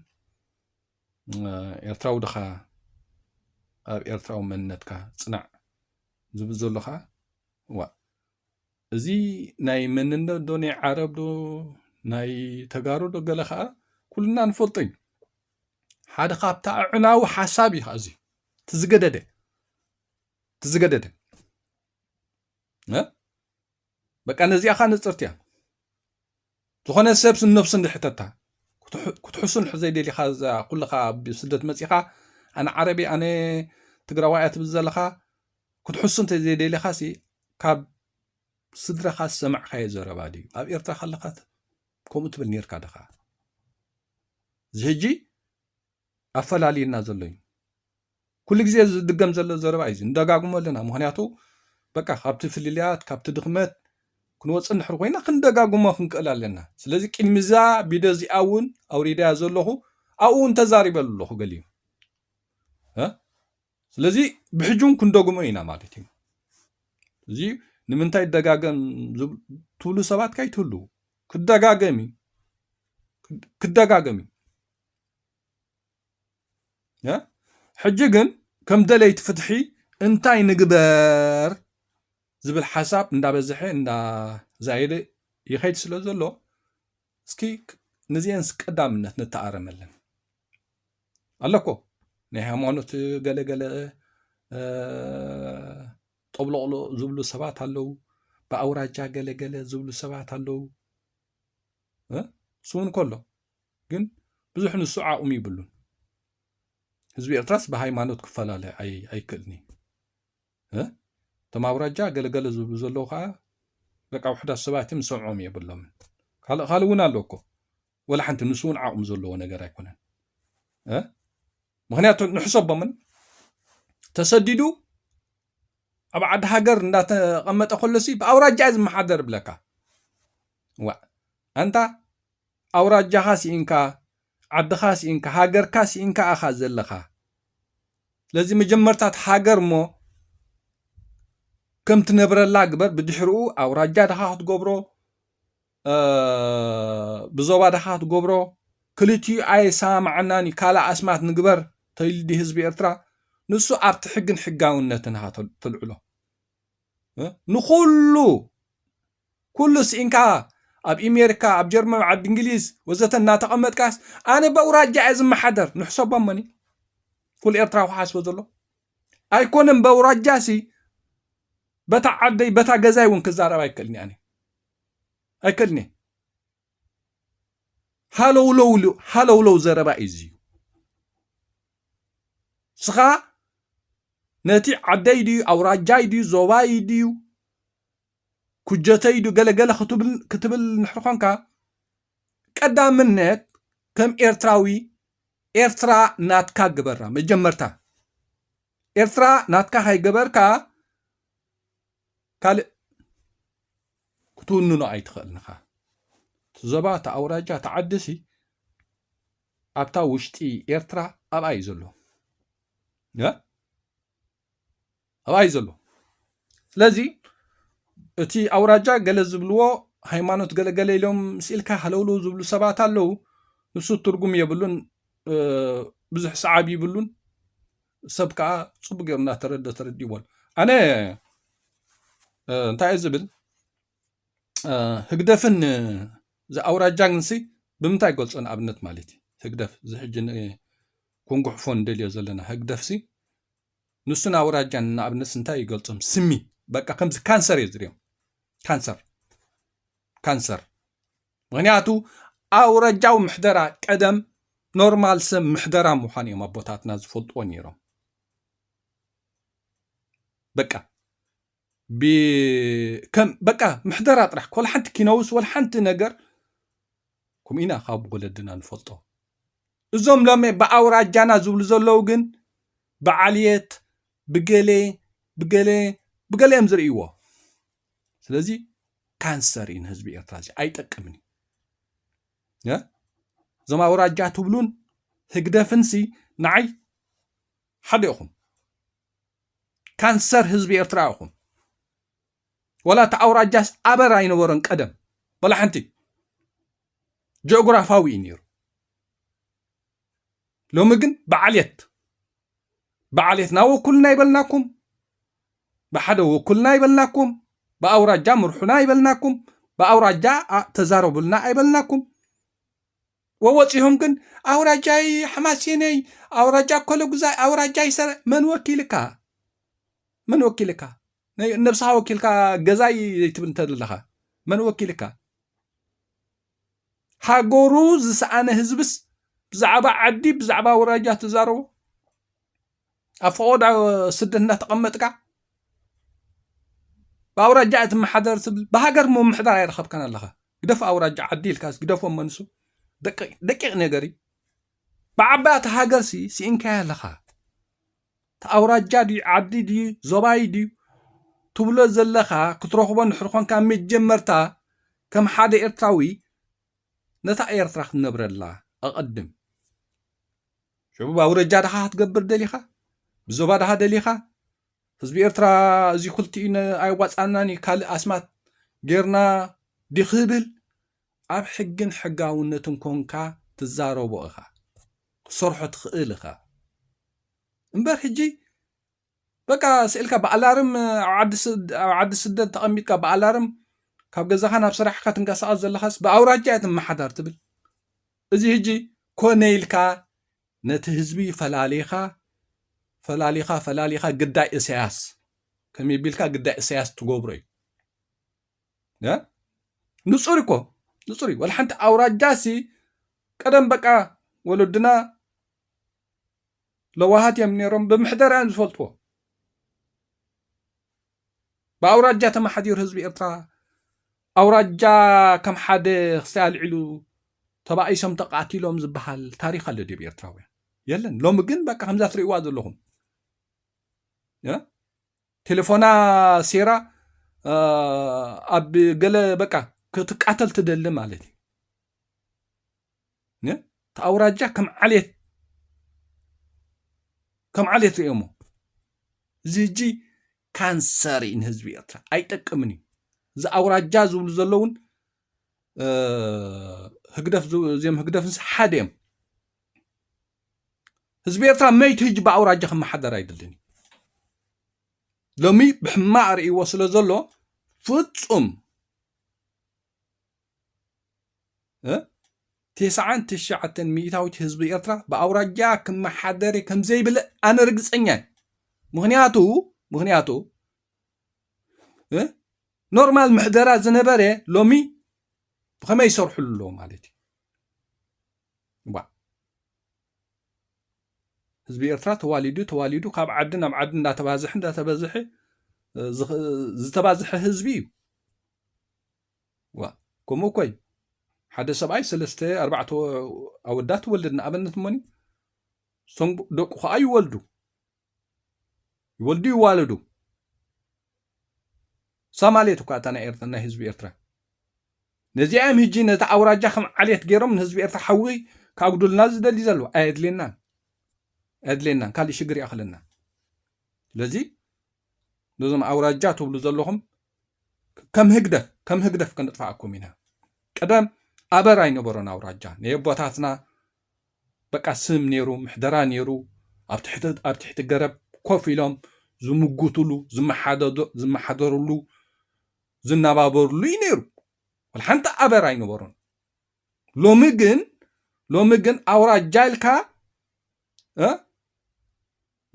Speaker 1: ኤርትራዊ ድኻ ኣብ ኤርትራዊ መንነትካ ፅናዕ ዝብል ዘሎ ከዓ ዋ እዚ ናይ መንነት ዶ ናይ ዓረብ ዶ ናይ ተጋሩ ዶ ገለ ከዓ ኩልና ንፈልጦ እዩ ሓደ ካብቲ ኣዕናዊ ሓሳብ እዩ እዚ ትዝገደደ ትዝገደደ በቃ ነዚኣ ከዓ ንፅርቲ እያ ዝኾነ ሰብስ ንነብሱ እንድሕ ሕተታ ክትሕሱን ዘይደሊኻ እዛ ኩልኻ ኣብ ስደት መጺኻ ኣነ ዓረብ እየ ኣነ ትግራዋይ እያ ትብል ዘለኻ ክትሕሱ እንተዘይደሊኻሲ ካብ ስድራኻ ዝሰማዕካዮ ዘረባ ድዩ ኣብ ኤርትራ ከለኻ ከምኡ ትብል ነርካ ድኻ እዚ ሕጂ ኣፈላልዩና ዘሎ እዩ። ኩሉ ግዜ ዝድገም ዘሎ ዘረባ እዩ ንደጋግሞ ኣለና ምክንያቱ በቃ ካብቲ ፍልልያት ካብቲ ድኽመት ክንወፅእ እንድሕር ኮይና ክንደጋግሞ ክንክእል ኣለና ስለዚ ቅድሚ እዛ ቪድዮ እዚኣ እውን ኣውሪዳያ ዘለኹ ኣብኡ እውን ተዛሪበ ኣለኹ ገሊኡ ስለዚ ብሕጂ እውን ክንደግሞ ኢና ማለት እዩ እዚ ንምንታይ ደጋገም ትብሉ ሰባት ካይትህልው ክደጋገም እዩ ክደጋገም እዩ ሕጂ ግን ከም ደለይቲ ፍትሒ እንታይ ንግበር ዝብል ሓሳብ እንዳበዝሐ እንዳዛየደ ይኸይድ ስለ ዘሎ እስኪ ንዚአንስ ቀዳምነት ንተኣረመለን ኣለኮ ናይ ሃይማኖት ገለገለ ጠብሎቕሎ ዝብሉ ሰባት ኣለዉ ብኣውራጃ ገለገለ ዝብሉ ሰባት ኣለዉ ስውን ከሎ ግን ብዙሕ ንሱ ዓቕሚ ይብሉን ህዝቢ ኤርትራስ ብሃይማኖት ክፈላለ ኣይክእልኒ እቶም ኣውራጃ ገለገለ ዝብሉ ዘለዉ ከዓ በቃ ውሕዳት ሰባት እዮም ዝሰምዖም የብሎምን ካልእ ካልእ እውን ኣሎ እኮ ወላ ሓንቲ ንሱ እውን ዓቕሚ ዘለዎ ነገር ኣይኮነን ምክንያቱ ንሕሰቦምን ተሰዲዱ ኣብ ዓዲ ሃገር እንዳተቐመጠ ከሎሲ ብኣውራጃ ዝመሓደር ብለካ ዋ ኣንታ ኣውራጃኻ ሲኢንካ ዓድኻ ሲኢንካ ሃገርካ ሲኢንካ ኢኻ ዘለኻ ስለዚ መጀመርታ እታ ሃገር እሞ ከም ትነብረላ ግበር ብድሕርኡ ኣውራጃ ድኻ ክትገብሮ ብዞባ ድኻ ክትገብሮ ክልቲኡ ኣየሰማማዓናን እዩ ካልእ ኣስማት ንግበር ተይሉ ድዩ ህዝቢ ኤርትራ ንሱ ኣብቲ ሕግን ሕጋውነትን ኢኻ ተልዕሎ ንኹሉ ኩሉ ስኢንካ ኣብ ኢሜሪካ ኣብ ጀርመን ዓዲ እንግሊዝ ወዘተ እናተቐመጥካስ ኣነ በውራጃ እየ ዝመሓደር ንሕሰቦ መኒ ኩሉ ኤርትራዊ ክሓስቦ ዘሎ ኣይኮነን በውራጃሲ በታ ዓደይ በታ ገዛይ እውን ክዛረብ ኣይክእልን እያ ኣይክእልን እየ ሃለውለው ሃለውለው ዘረባ እዩ እዚዩ ስኻ ነቲ ዓደይ ድዩ ኣውራጃይ ድዩ ዞባይ ድዩ ኩጀተይ ዶ ገለ ገለ ክትብል እንድሕር ኾንካ ቀዳምነት ከም ኤርትራዊ ኤርትራ ናትካ ግበራ መጀመርታ ኤርትራ ናትካ ከይገበርካ ካልእ ክትውንኖ ኣይትኽእልን ኢኻ እቲ ዞባ እቲ ኣውራጃ እቲ ዓዲሲ ኣብታ ውሽጢ ኤርትራ ኣብኣ እዩ ዘሎ ኣብኣ እዩ ዘሎ ስለዚ እቲ ኣውራጃ ገለ ዝብልዎ ሃይማኖት ገለገለ ኢሎም ስኢልካ ሃለውለው ዝብሉ ሰባት ኣለው ንሱ ትርጉም የብሉን ብዙሕ ሰዓብ ይብሉን ሰብ ከዓ ፅቡቅ ገይሩ እናተረደ ተረዲዎን ኣነ እንታይ ዝብል ህግደፍን ዝኣውራጃን ሲ ብምንታይ ይገልፆ ንኣብነት ማለት እዩ ህግደፍ ዝሕጂ ኮንጉሕፎ ንደልዮ ዘለና ህግደፍ ሲ ንሱን ኣውራጃን ንኣብነት እንታይ እዩ ገልጾም ስሚ በቃ ከምዚ ካንሰር እዩ ዝርዮም ካንሰር ካንሰር ምክንያቱ ኣውራጃዊ ምሕደራ ቀደም ኖርማል ሰብ ምሕደራ ምዃን እዮም ኣቦታትና ዝፈልጥዎ ነይሮም በቃ ብ ከም በቃ ምሕደራ ጥራሕ ወላ ሓንቲ ኪነውስ ወላ ሓንቲ ነገር ከምኡ ኢና ካብ ወለድና ንፈልጦ። እዞም ሎሚ ብኣውራጃና ዝብሉ ዘለዉ ግን ብዓልየት ብገሌ ብገሌ ብገሌ እዮም ዝርእይዎ። ስለዚ ካንሰር እዩ ንህዝቢ ኤርትራ እዚ ኣይጠቅምን እዩ። እ? እዞም ኣውራጃ ትብሉን ህግደፍንሲ ንዓይ ሓደ ኢኹም። ካንሰር ህዝቢ ኤርትራ ኢኹም። ወላ እቲ ኣውራጃስ ኣበር ኣይነበሮን ቀደም ወላ ሓንቲ ጂኦግራፋዊ እዩ ነይሩ። ሎሚ ግን ብዓልየት ብዓልየትና ወኩልና ይበልናኩም፣ ብሓደ ወኩልና ይበልናኩም፣ ብኣውራጃ ምርሑና ይበልናኩም፣ ብኣውራጃ ተዛረቡልና ኣይበልናኩም። ወወጺሆም ግን ኣውራጃይ ሓማሴነይ ኣውራጃ ኮለጉዛይ ኣውራጃይ ሰረ መን ወኪልካ መን ወኪልካ ነብስኻ ወኪልካ ገዛይ ዘይትብል እንተለኻ መን ወኪልካ ሃገሩ ዝሰኣነ ህዝብስ ብዛዕባ ዓዲ ብዛዕባ ኣውራጃ ትዛረቦ ኣብ ፈቐዶ ስደት እንዳተቐመጥካ ብኣውራጃ እየ ትመሓደር ትብል ብሃገር ምምሕዳር ኣይረኸብካን ኣለኻ ግደፍ ኣውራጃ ዓዲ ኢልካ ግደፎ መንሱ ደቂቕ ነገር እዩ ብዓባይ እቲ ሃገር ሲ ስኢንካዮ ኣለኻ እቲ ኣውራጃ ድዩ ዓዲ ድዩ ዞባይ ድዩ ትብሎ ዘለኻ ክትረኽቦ እንድሕር ኮንካ መጀመርታ ከም ሓደ ኤርትራዊ ነታ ኤርትራ ክትነብረላ ኣቐድም ሽዑ ብኣውረጃ ድኻ ክትገብር ደሊኻ ብዞባ ድኻ ደሊኻ ህዝቢ ኤርትራ እዚ ክልቲኡ ኣይዋፃናን እዩ ካልእ ኣስማት ጌርና ዲክብል ኣብ ሕግን ሕጋውነትን ኮንካ ትዛረቦ ኢኻ ክትሰርሖ ትኽእል ኢኻ እምበር ሕጂ በቃ ስእልካ ብኣላርም ኣብ ዓዲ ስደት ተቐሚጥካ ብኣላርም ካብ ገዛኻ ናብ ስራሕካ ትንቀሳቐስ ዘለኻስ ብኣውራጃ እየ ትመሓዳር ትብል እዚ ህጂ ኮነ ኢልካ ነቲ ህዝቢ ፈላሊኻ ፈላሊኻ ፈላሊኻ ግዳይ እሰያስ ከመይ ቢልካ ግዳይ እሰያስ ትገብሮ እዩ ንጹር እኮ ንጹር እዩ ወላ ሓንቲ ኣውራጃ ሲ ቀደም በቃ ወለድና ለዋሃት እዮም ነይሮም ብምሕደራ እዮም ዝፈልጥዎ ብኣውራጃ ተመሓዲሩ ህዝቢ ኤርትራ ኣውራጃ ከም ሓደ ክሳይ ኣልዒሉ ተባኢሶም ተቃቲሎም ዝበሃል ታሪክ ኣሎ ድብ ኤርትራውያን የለን ሎሚ ግን በቃ ከምዛ ትርእዋ ዘለኹም ቴለፎና ሴራ ኣብ ገለ በቃ ክትቃተል ትደሊ ማለት እዩ እቲ ኣውራጃ ከም ዓሌት ከም ዓሌት ሪኦሞ እዚ ህጂ ካንሰር እዩ ንህዝቢ ኤርትራ ኣይጠቅምን እዩ እዚ ኣውራጃ ዝብሉ ዘለውን ህግደፍ እዚኦም ህግደፍንስ ሓደ እዮም ህዝቢ ኤርትራ መይቲ ህጂ ብኣውራጃ ክመሓደር ኣይድልን ሎሚ ብሕማቅ ርእይዎ ስለ ዘሎ ፍጹም ቴስዓን ትሽዓተን ሚእታዊት ህዝቢ ኤርትራ ብኣውራጃ ክመሓደር ከም ዘይብል ኣነ ርግጸኛ ምክንያቱ ምክንያቱ ኖርማል ምሕደራ ዝነበረ ሎሚ ብኸመይ ይሰርሕሉ ኣለዎ ማለት እዩ ዋ ህዝቢ ኤርትራ ተዋሊዱ ተዋሊዱ ካብ ዓዲ ናብ ዓዲ እንዳተባዝሐ እንዳተበዝሐ ዝተባዝሐ ህዝቢ እዩ ዋ ከምኡ እኮ እዩ ሓደ ሰብኣይ ሰለስተ ኣርባዕተ ኣወዳት ወልድ ንኣብነት እሞኒ እቶም ደቁ ከዓ ይወልዱ ይወልዱ ይዋለዱ ሳማሌት እኳ እታ ናይ ኤርትራ ናይ ህዝቢ ኤርትራ ነዚኣም ህጂ ነቲ ኣውራጃ ከም ዓሌት ገይሮም ንህዝቢ ኤርትራ ሓዊ ካጉዱልና ዝደሊ ዘሎ ኣየድልየናን ኣየድልየናን ካልእ ሽግር ይኣኽለና ስለዚ ነዞም ኣውራጃ ትብሉ ዘለኹም ከም ህግደፍ ከም ህግደፍ ከነጥፋኣኩም ኢና ቀደም ኣበር ኣይነበሮን ኣውራጃ ናይ ኣቦታትና በቃ ስም ኔሩ ምሕደራ ኔሩ ኣብ ትሕቲ ኣብ ትሕቲ ገረብ ኮፍ ኢሎም ዝምጉትሉ ዝመሓደዶ ዝመሓደርሉ ዝነባበርሉ እዩ ኔሩ ወላ ሓንቲ ኣበር ኣይነበሮን ሎሚ ግን ሎሚ ግን ኣውራጃ ኢልካ እ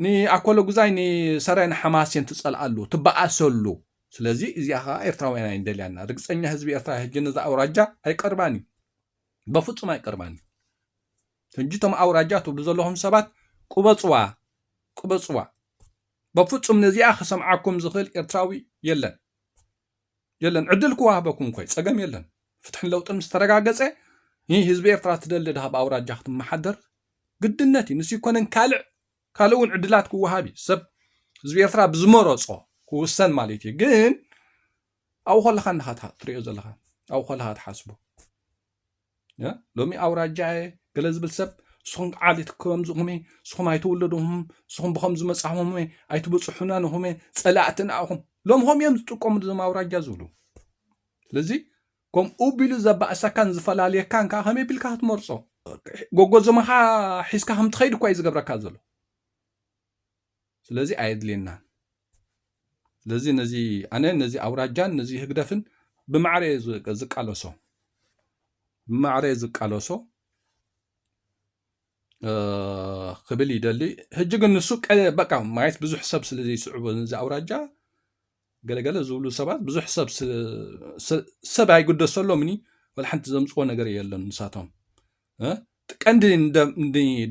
Speaker 1: ንኣኮሎጉዛይ ንሰረን ሓማሴን ትጸልኣሉ ትበኣሰሉ ስለዚ እዚኣ ከኣ ኤርትራውያን ኣይንደልያና ርግጸኛ ህዝቢ ኤርትራ ህጂ ነዛ ኣውራጃ ኣይቀርባን እዩ በፍጹም ኣይቀርባን እዩ ህጂ እቶም ኣውራጃ ትብሉ ዘለኹም ሰባት ቁበጽዋ ቁበጽዋ በፍጹም ነዚኣ ክሰምዓኩም ዝኽእል ኤርትራዊ የለን የለን ዕድል ክዋህበኩም ኮይ ጸገም የለን ፍትሕን ለውጥን ምስ ተረጋገጸ ን ህዝቢ ኤርትራ ትደሊ ድሃ ብ ኣውራጃ ክትመሓደር ግድነት እዩ ንሱ ኣይኮነን ካልዕ ካልእ እውን ዕድላት ክወሃብ እዩ ሰብ ህዝቢ ኤርትራ ብዝመረጾ ክውሰን ማለት እዩ ግን ኣብኡ ከለኻ እንድኻ ትርእዮ ዘለኻ ኣብኡ ከለኻ ትሓስቦ ሎሚ ኣውራጃ እየ ገለ ዝብል ሰብ ንስኹም ዓሌት ከምዚኹም እየ ንስኹም ኣይተወለድኹም ንስኹም ብከምዚ መፃኹም እየ ኣይትበፅሑና ንኹም እየ ፀላእትና ኢኹም ሎም ኸም እዮም ዝጥቀምሉ ዞም ኣውራጃ ዝብሉ ስለዚ ከምኡ ቢሉ ዘባእሰካን ዝፈላለየካን ከዓ ከመይ ቢልካ ክትመርፆ ጎጎዘመኻ ሒዝካ ከምትኸይድ እኳ እዩ ዝገብረካ ዘሎ ስለዚ ኣየድልየናን ስለዚ ነዚ ኣነ ነዚ ኣውራጃን ነዚ ህግደፍን ብማዕረ ዝቃለሶ ብማዕረ ዝቃለሶ ክብል ይደሊ ሕጂ ግን ንሱ በቃ ማየት ብዙሕ ሰብ ስለ ዘይስዕቦ ነዚ ኣውራጃ ገለ ገለ ዝብሉ ሰባት ብዙሕ ሰብ ሰብ ኣይግደሰሎምኒ ወላ ሓንቲ ዘምፅዎ ነገር የለን ንሳቶም ቀንዲ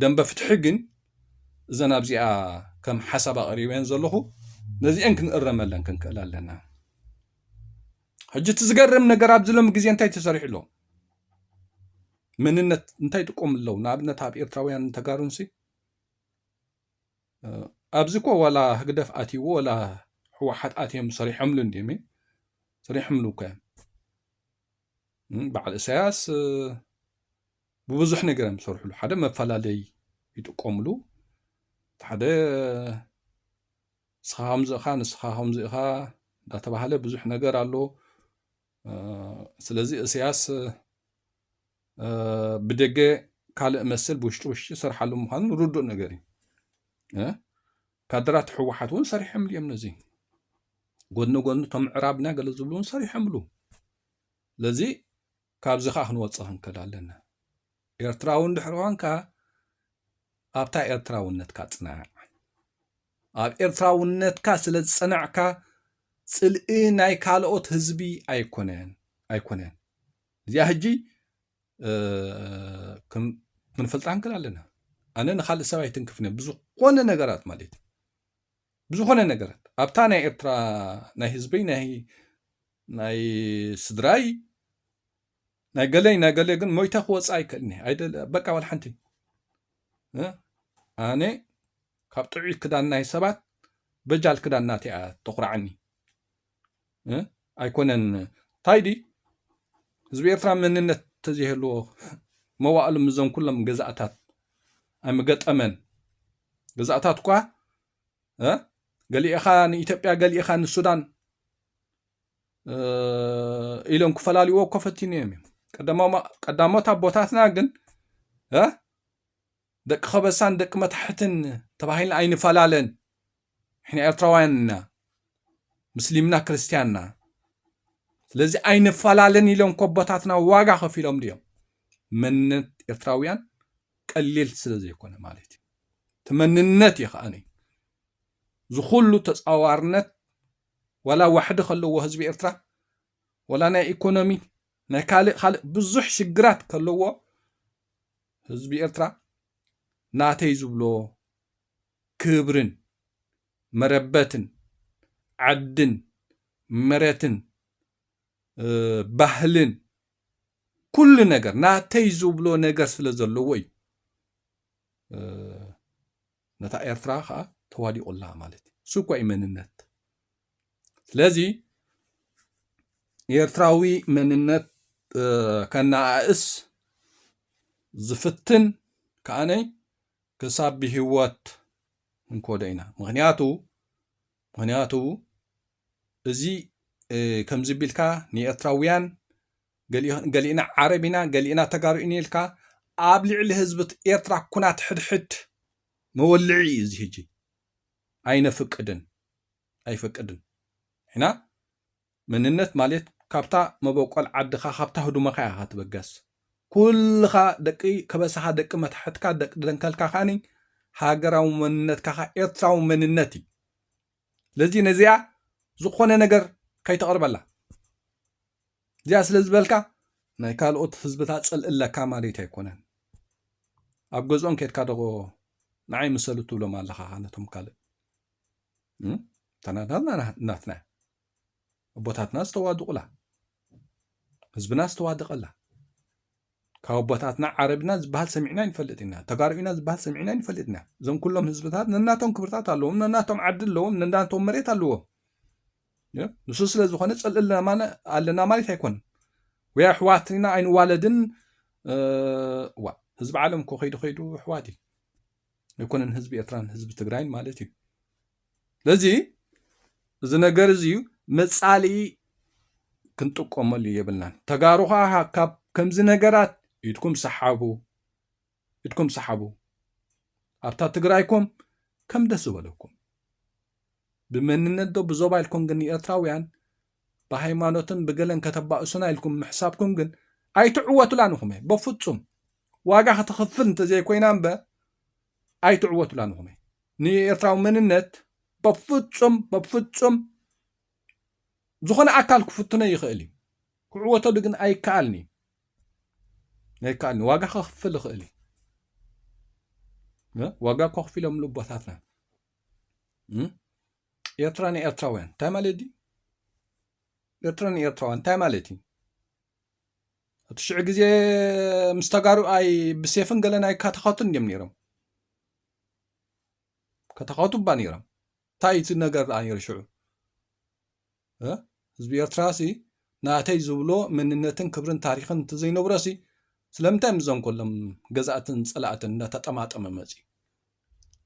Speaker 1: ደንበ ፍትሒ ግን እዘን ኣብዚኣ ከም ሓሳብ ኣቕሪበን ዘለኹ ነዚአን ክንእረመለን ክንክእል ኣለና ሕጂ እቲ ዝገርም ነገር ኣብዚ ሎሚ ግዜ እንታይ ተሰሪሑ ኣሎ መንነት እንታይ ጥቆም ኣለዉ ንኣብነት ኣብ ኤርትራውያን ተጋሩንሲ ኣብዚ እኮ ዋላ ህግደፍ ኣትይዎ ዋላ ሕወሓት ኣትዮም ሰሪሖምሉ እንድዮም ሰሪሖምሉ እኮ እዮም በዓል እሳያስ ብብዙሕ ነገር እዮም ዝሰርሕሉ ሓደ መፈላለይ ይጥቀምሉ ሓደ ንስኻ ከምዚ ኢኻ ንስኻ ከምዚ ኢኻ እንዳተባሃለ ብዙሕ ነገር ኣሎ ስለዚ እሰያስ ብደገ ካልእ መስል ብውሽጢ ውሽጢ ሰርሓሉ ምዃኑ ርዱእ ነገር እዩ ካድራት ሕወሓት እውን ሰሪሖምሉ እዮም ነዚ ጎኒ ጎኒ እቶም ምዕራብና ገለ ዝብሉ እውን ሰሪሖምሉ ስለዚ ካብዚ ከዓ ክንወፅእ ክንከል ኣለና ኤርትራዊ እንድሕር ኾንካ ኣብታ ኤርትራውነትካ ጽናዕ። ኣብ ኤርትራውነትካ ስለ ዝጸናዕካ ጽልኢ ናይ ካልኦት ህዝቢ ኣይኮነን ኣይኮነን እዚኣ ህጂ ክንፈልጣ ንክእል ኣለና ኣነ ንካልእ ሰብ ኣይትንክፍነ ብዝኾነ ነገራት ማለት እዩ ብዝኾነ ነገራት ኣብታ ናይ ኤርትራ ናይ ህዝበይ ናይ ስድራይ ናይ ገለይ ናይ ገለይ ግን ሞይተ ክወፅእ ኣይክእልኒ ኣይደለ በቃ ዋላ ሓንቲ ኣነ ካብ ጥዑይ ክዳን ናይ ሰባት በጃል ክዳን ናተይ እያ ተኩራዓኒ ኣይኮነን እንታይ ዲ ህዝቢ ኤርትራ መንነት ተዘይህልዎ መዋእሉ ምዞም ኩሎም ገዛእታት ኣይምገጠመን ገዛእታት እኳ ገሊእኻ ንኢትዮጵያ ገሊእኻ ንሱዳን ኢሎም ክፈላልዎ እኮ ፈቲኖም እዮም ቀዳሞት ኣቦታትና ግን ደቂ ከበሳን ደቂ መታሕትን ተባሂልና ኣይንፈላለን ሕና ኤርትራውያን ኢና ምስሊምና ክርስትያንና ስለዚ ኣይንፈላለን ኢሎም ኮቦታትና ዋጋ ከፊሎም ድዮም መንነት ኤርትራውያን ቀሊል ስለ ዘይኮነ ማለት እዩ እቲ መንነት እዩ ከዓኒ ዝኩሉ ተፃዋርነት ዋላ ዋሕዲ ከለዎ ህዝቢ ኤርትራ ዋላ ናይ ኢኮኖሚ ናይ ካልእ ካልእ ብዙሕ ሽግራት ከለዎ ህዝቢ ኤርትራ ናተይ ዝብሎ ክብርን መረበትን ዓድን መረትን ባህልን ኩሉ ነገር ናተይ ዝብሎ ነገር ስለ ዘለዎ እዩ ነታ ኤርትራ ከኣ ተዋዲቁላ ማለት እዩ እሱ እኳ እዩ መንነት ስለዚ ኤርትራዊ መንነት ከነኣእስ ዝፍትን ከኣነይ ክሳብ ብሂወት እንኮዶ ኢና ምክንያቱ ምክንያቱ እዚ ከምዚ ቢልካ ንኤርትራውያን ገሊእና ዓረብ ኢና ገሊእና ተጋሩ ኢና ኢልካ ኣብ ልዕሊ ህዝቢ ኤርትራ ኩናት ሕድሕድ መወልዒ እዩ እዚ ህጂ ኣይነፍቅድን ኣይፈቅድን ኢና መንነት ማልት ካብታ መበቆል ዓድካ ካብታ ህዱመካ ኢካ ትብገስ ኩልካ ደቂ ከበሳካ ደቂ መታሕትካ ደቂ ደንከልካ ካኒ ሃገራዊ መንነትካ ካኣ ኤርትራዊ መንነት እዪ ስለዚ ነዚኣ ዝኮነ ነገር ከይተቅርበላ እዚኣ ስለ ዝበልካ ናይ ካልኦት ህዝብታት ጽልኢ ኣለካ ማልት ኣይኮነን ኣብ ገዝኦም ከድካ ዶ ንዓይ ምሰሉ ትብሎም ኣለካ ካኣ ነቶም ካልእ ተናታትና ናትና እያ። ኣቦታትና ዝተዋድቑላ ህዝብና ዝተዋደቐላ ካብ ኣቦታትና ዓረብና ዝበሃል ሰሚዕና ይንፈልጥ ኢና ተጋሩ ኢና ዝበሃል ሰሚዕና ይንፈልጥ ኢና እዞም ኩሎም ህዝብታት ነናቶም ክብርታት ኣለዎም ነናቶም ዓዲ ኣለዎም ነናቶም መሬት ኣለዎም ንሱ ስለ ዝኾነ ፅልእልና ኣለና ማለት ኣይኮነን ወይ ኣሕዋት ኢና ኣይንዋለድን ዋ ህዝቢ ዓለም እኮ ከይዱ ከይዱ ኣሕዋት እዩ ኣይኮነን ህዝቢ ኤርትራን ህዝቢ ትግራይን ማለት እዩ ስለዚ እዚ ነገር እዚ መፃሊ ክንጥቀመሉ የብልናን ተጋሩ ከዓ ካብ ከምዚ ነገራት ኢድኩም ሰሓቡ ኢድኩም ሰሓቡ ኣብታ ትግራይኩም ከም ደስ ዝበለኩም ብመንነት ዶ ብዞባ ኢልኩም ግን ንኤርትራውያን ብሃይማኖትን ብገለን ከተባእሱና ኢልኩም ምሕሳብኩም ግን ኣይትዕወቱላን ኢኹም እየ በፍጹም ዋጋ ከተኽፍል እንተዘይኮይና እምበ ኣይትዕወቱላን ኢኹም እየ ንኤርትራዊ መንነት በፍጹም በፍጹም ዝኾነ ኣካል ክፍትኖ ይኽእል እዩ ክዕወተሉ ግን ኣይከኣልን እዩ ኣይከኣልን ዋጋ ከኽፍል ይኽእል እዩ ዋጋ ከኽፊሎምሉ ቦታትና ኤርትራ ንኤርትራውያን እንታይ ማለት ድዩ? ኤርትራ ንኤርትራውያን እንታይ ማለት እዩ? እቲ ሽዑ ግዜ ምስ ተጋሩ ኣይ ብሴፍን ገለን ኣይካታኸቱን እዮም ነይሮም ከታኸቱ እባ ነይሮም እንታይ እቲ ነገር ደኣ ነይሩ ሽዑ ህዝቢ ኤርትራሲ ናተይ ዝብሎ መንነትን ክብርን ታሪኽን እንተዘይነብሮሲ ስለምንታይ ምስዞም ኮሎም ገዛእትን ጸላእትን እንዳተጠማጠመ መጺኡ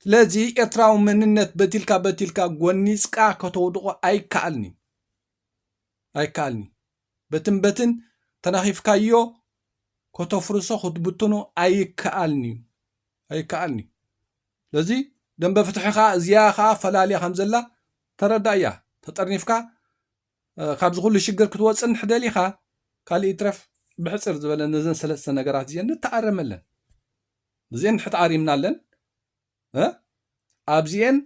Speaker 1: ስለዚ ኤርትራዊ መንነት በቲልካ በቲልካ ጎኒጽካ ከተውድቆ ኣይከኣልኒ ኣይከኣልኒ በትን በትን ተናኺፍካዮ ከተፍርሶ ክትብትኖ ኣይከኣልኒ እዩ ኣይከኣልኒ ስለዚ ደምበ ፍትሒ ከኣ እዚኣ ከኣ ፈላልያ ከም ዘላ ተረዳእያ። ተጠርኒፍካ ካብዚ ኩሉ ሽግር ክትወጽእ እንድሕር ደሊኻ ካልእ ይትረፍ ብሕጽር ዝበለ ነዘን ሰለስተ ነገራት እዚኤን ንተኣረመለን። እዚኤን እንድሕር ተኣሪምናለን ኣብዚኤን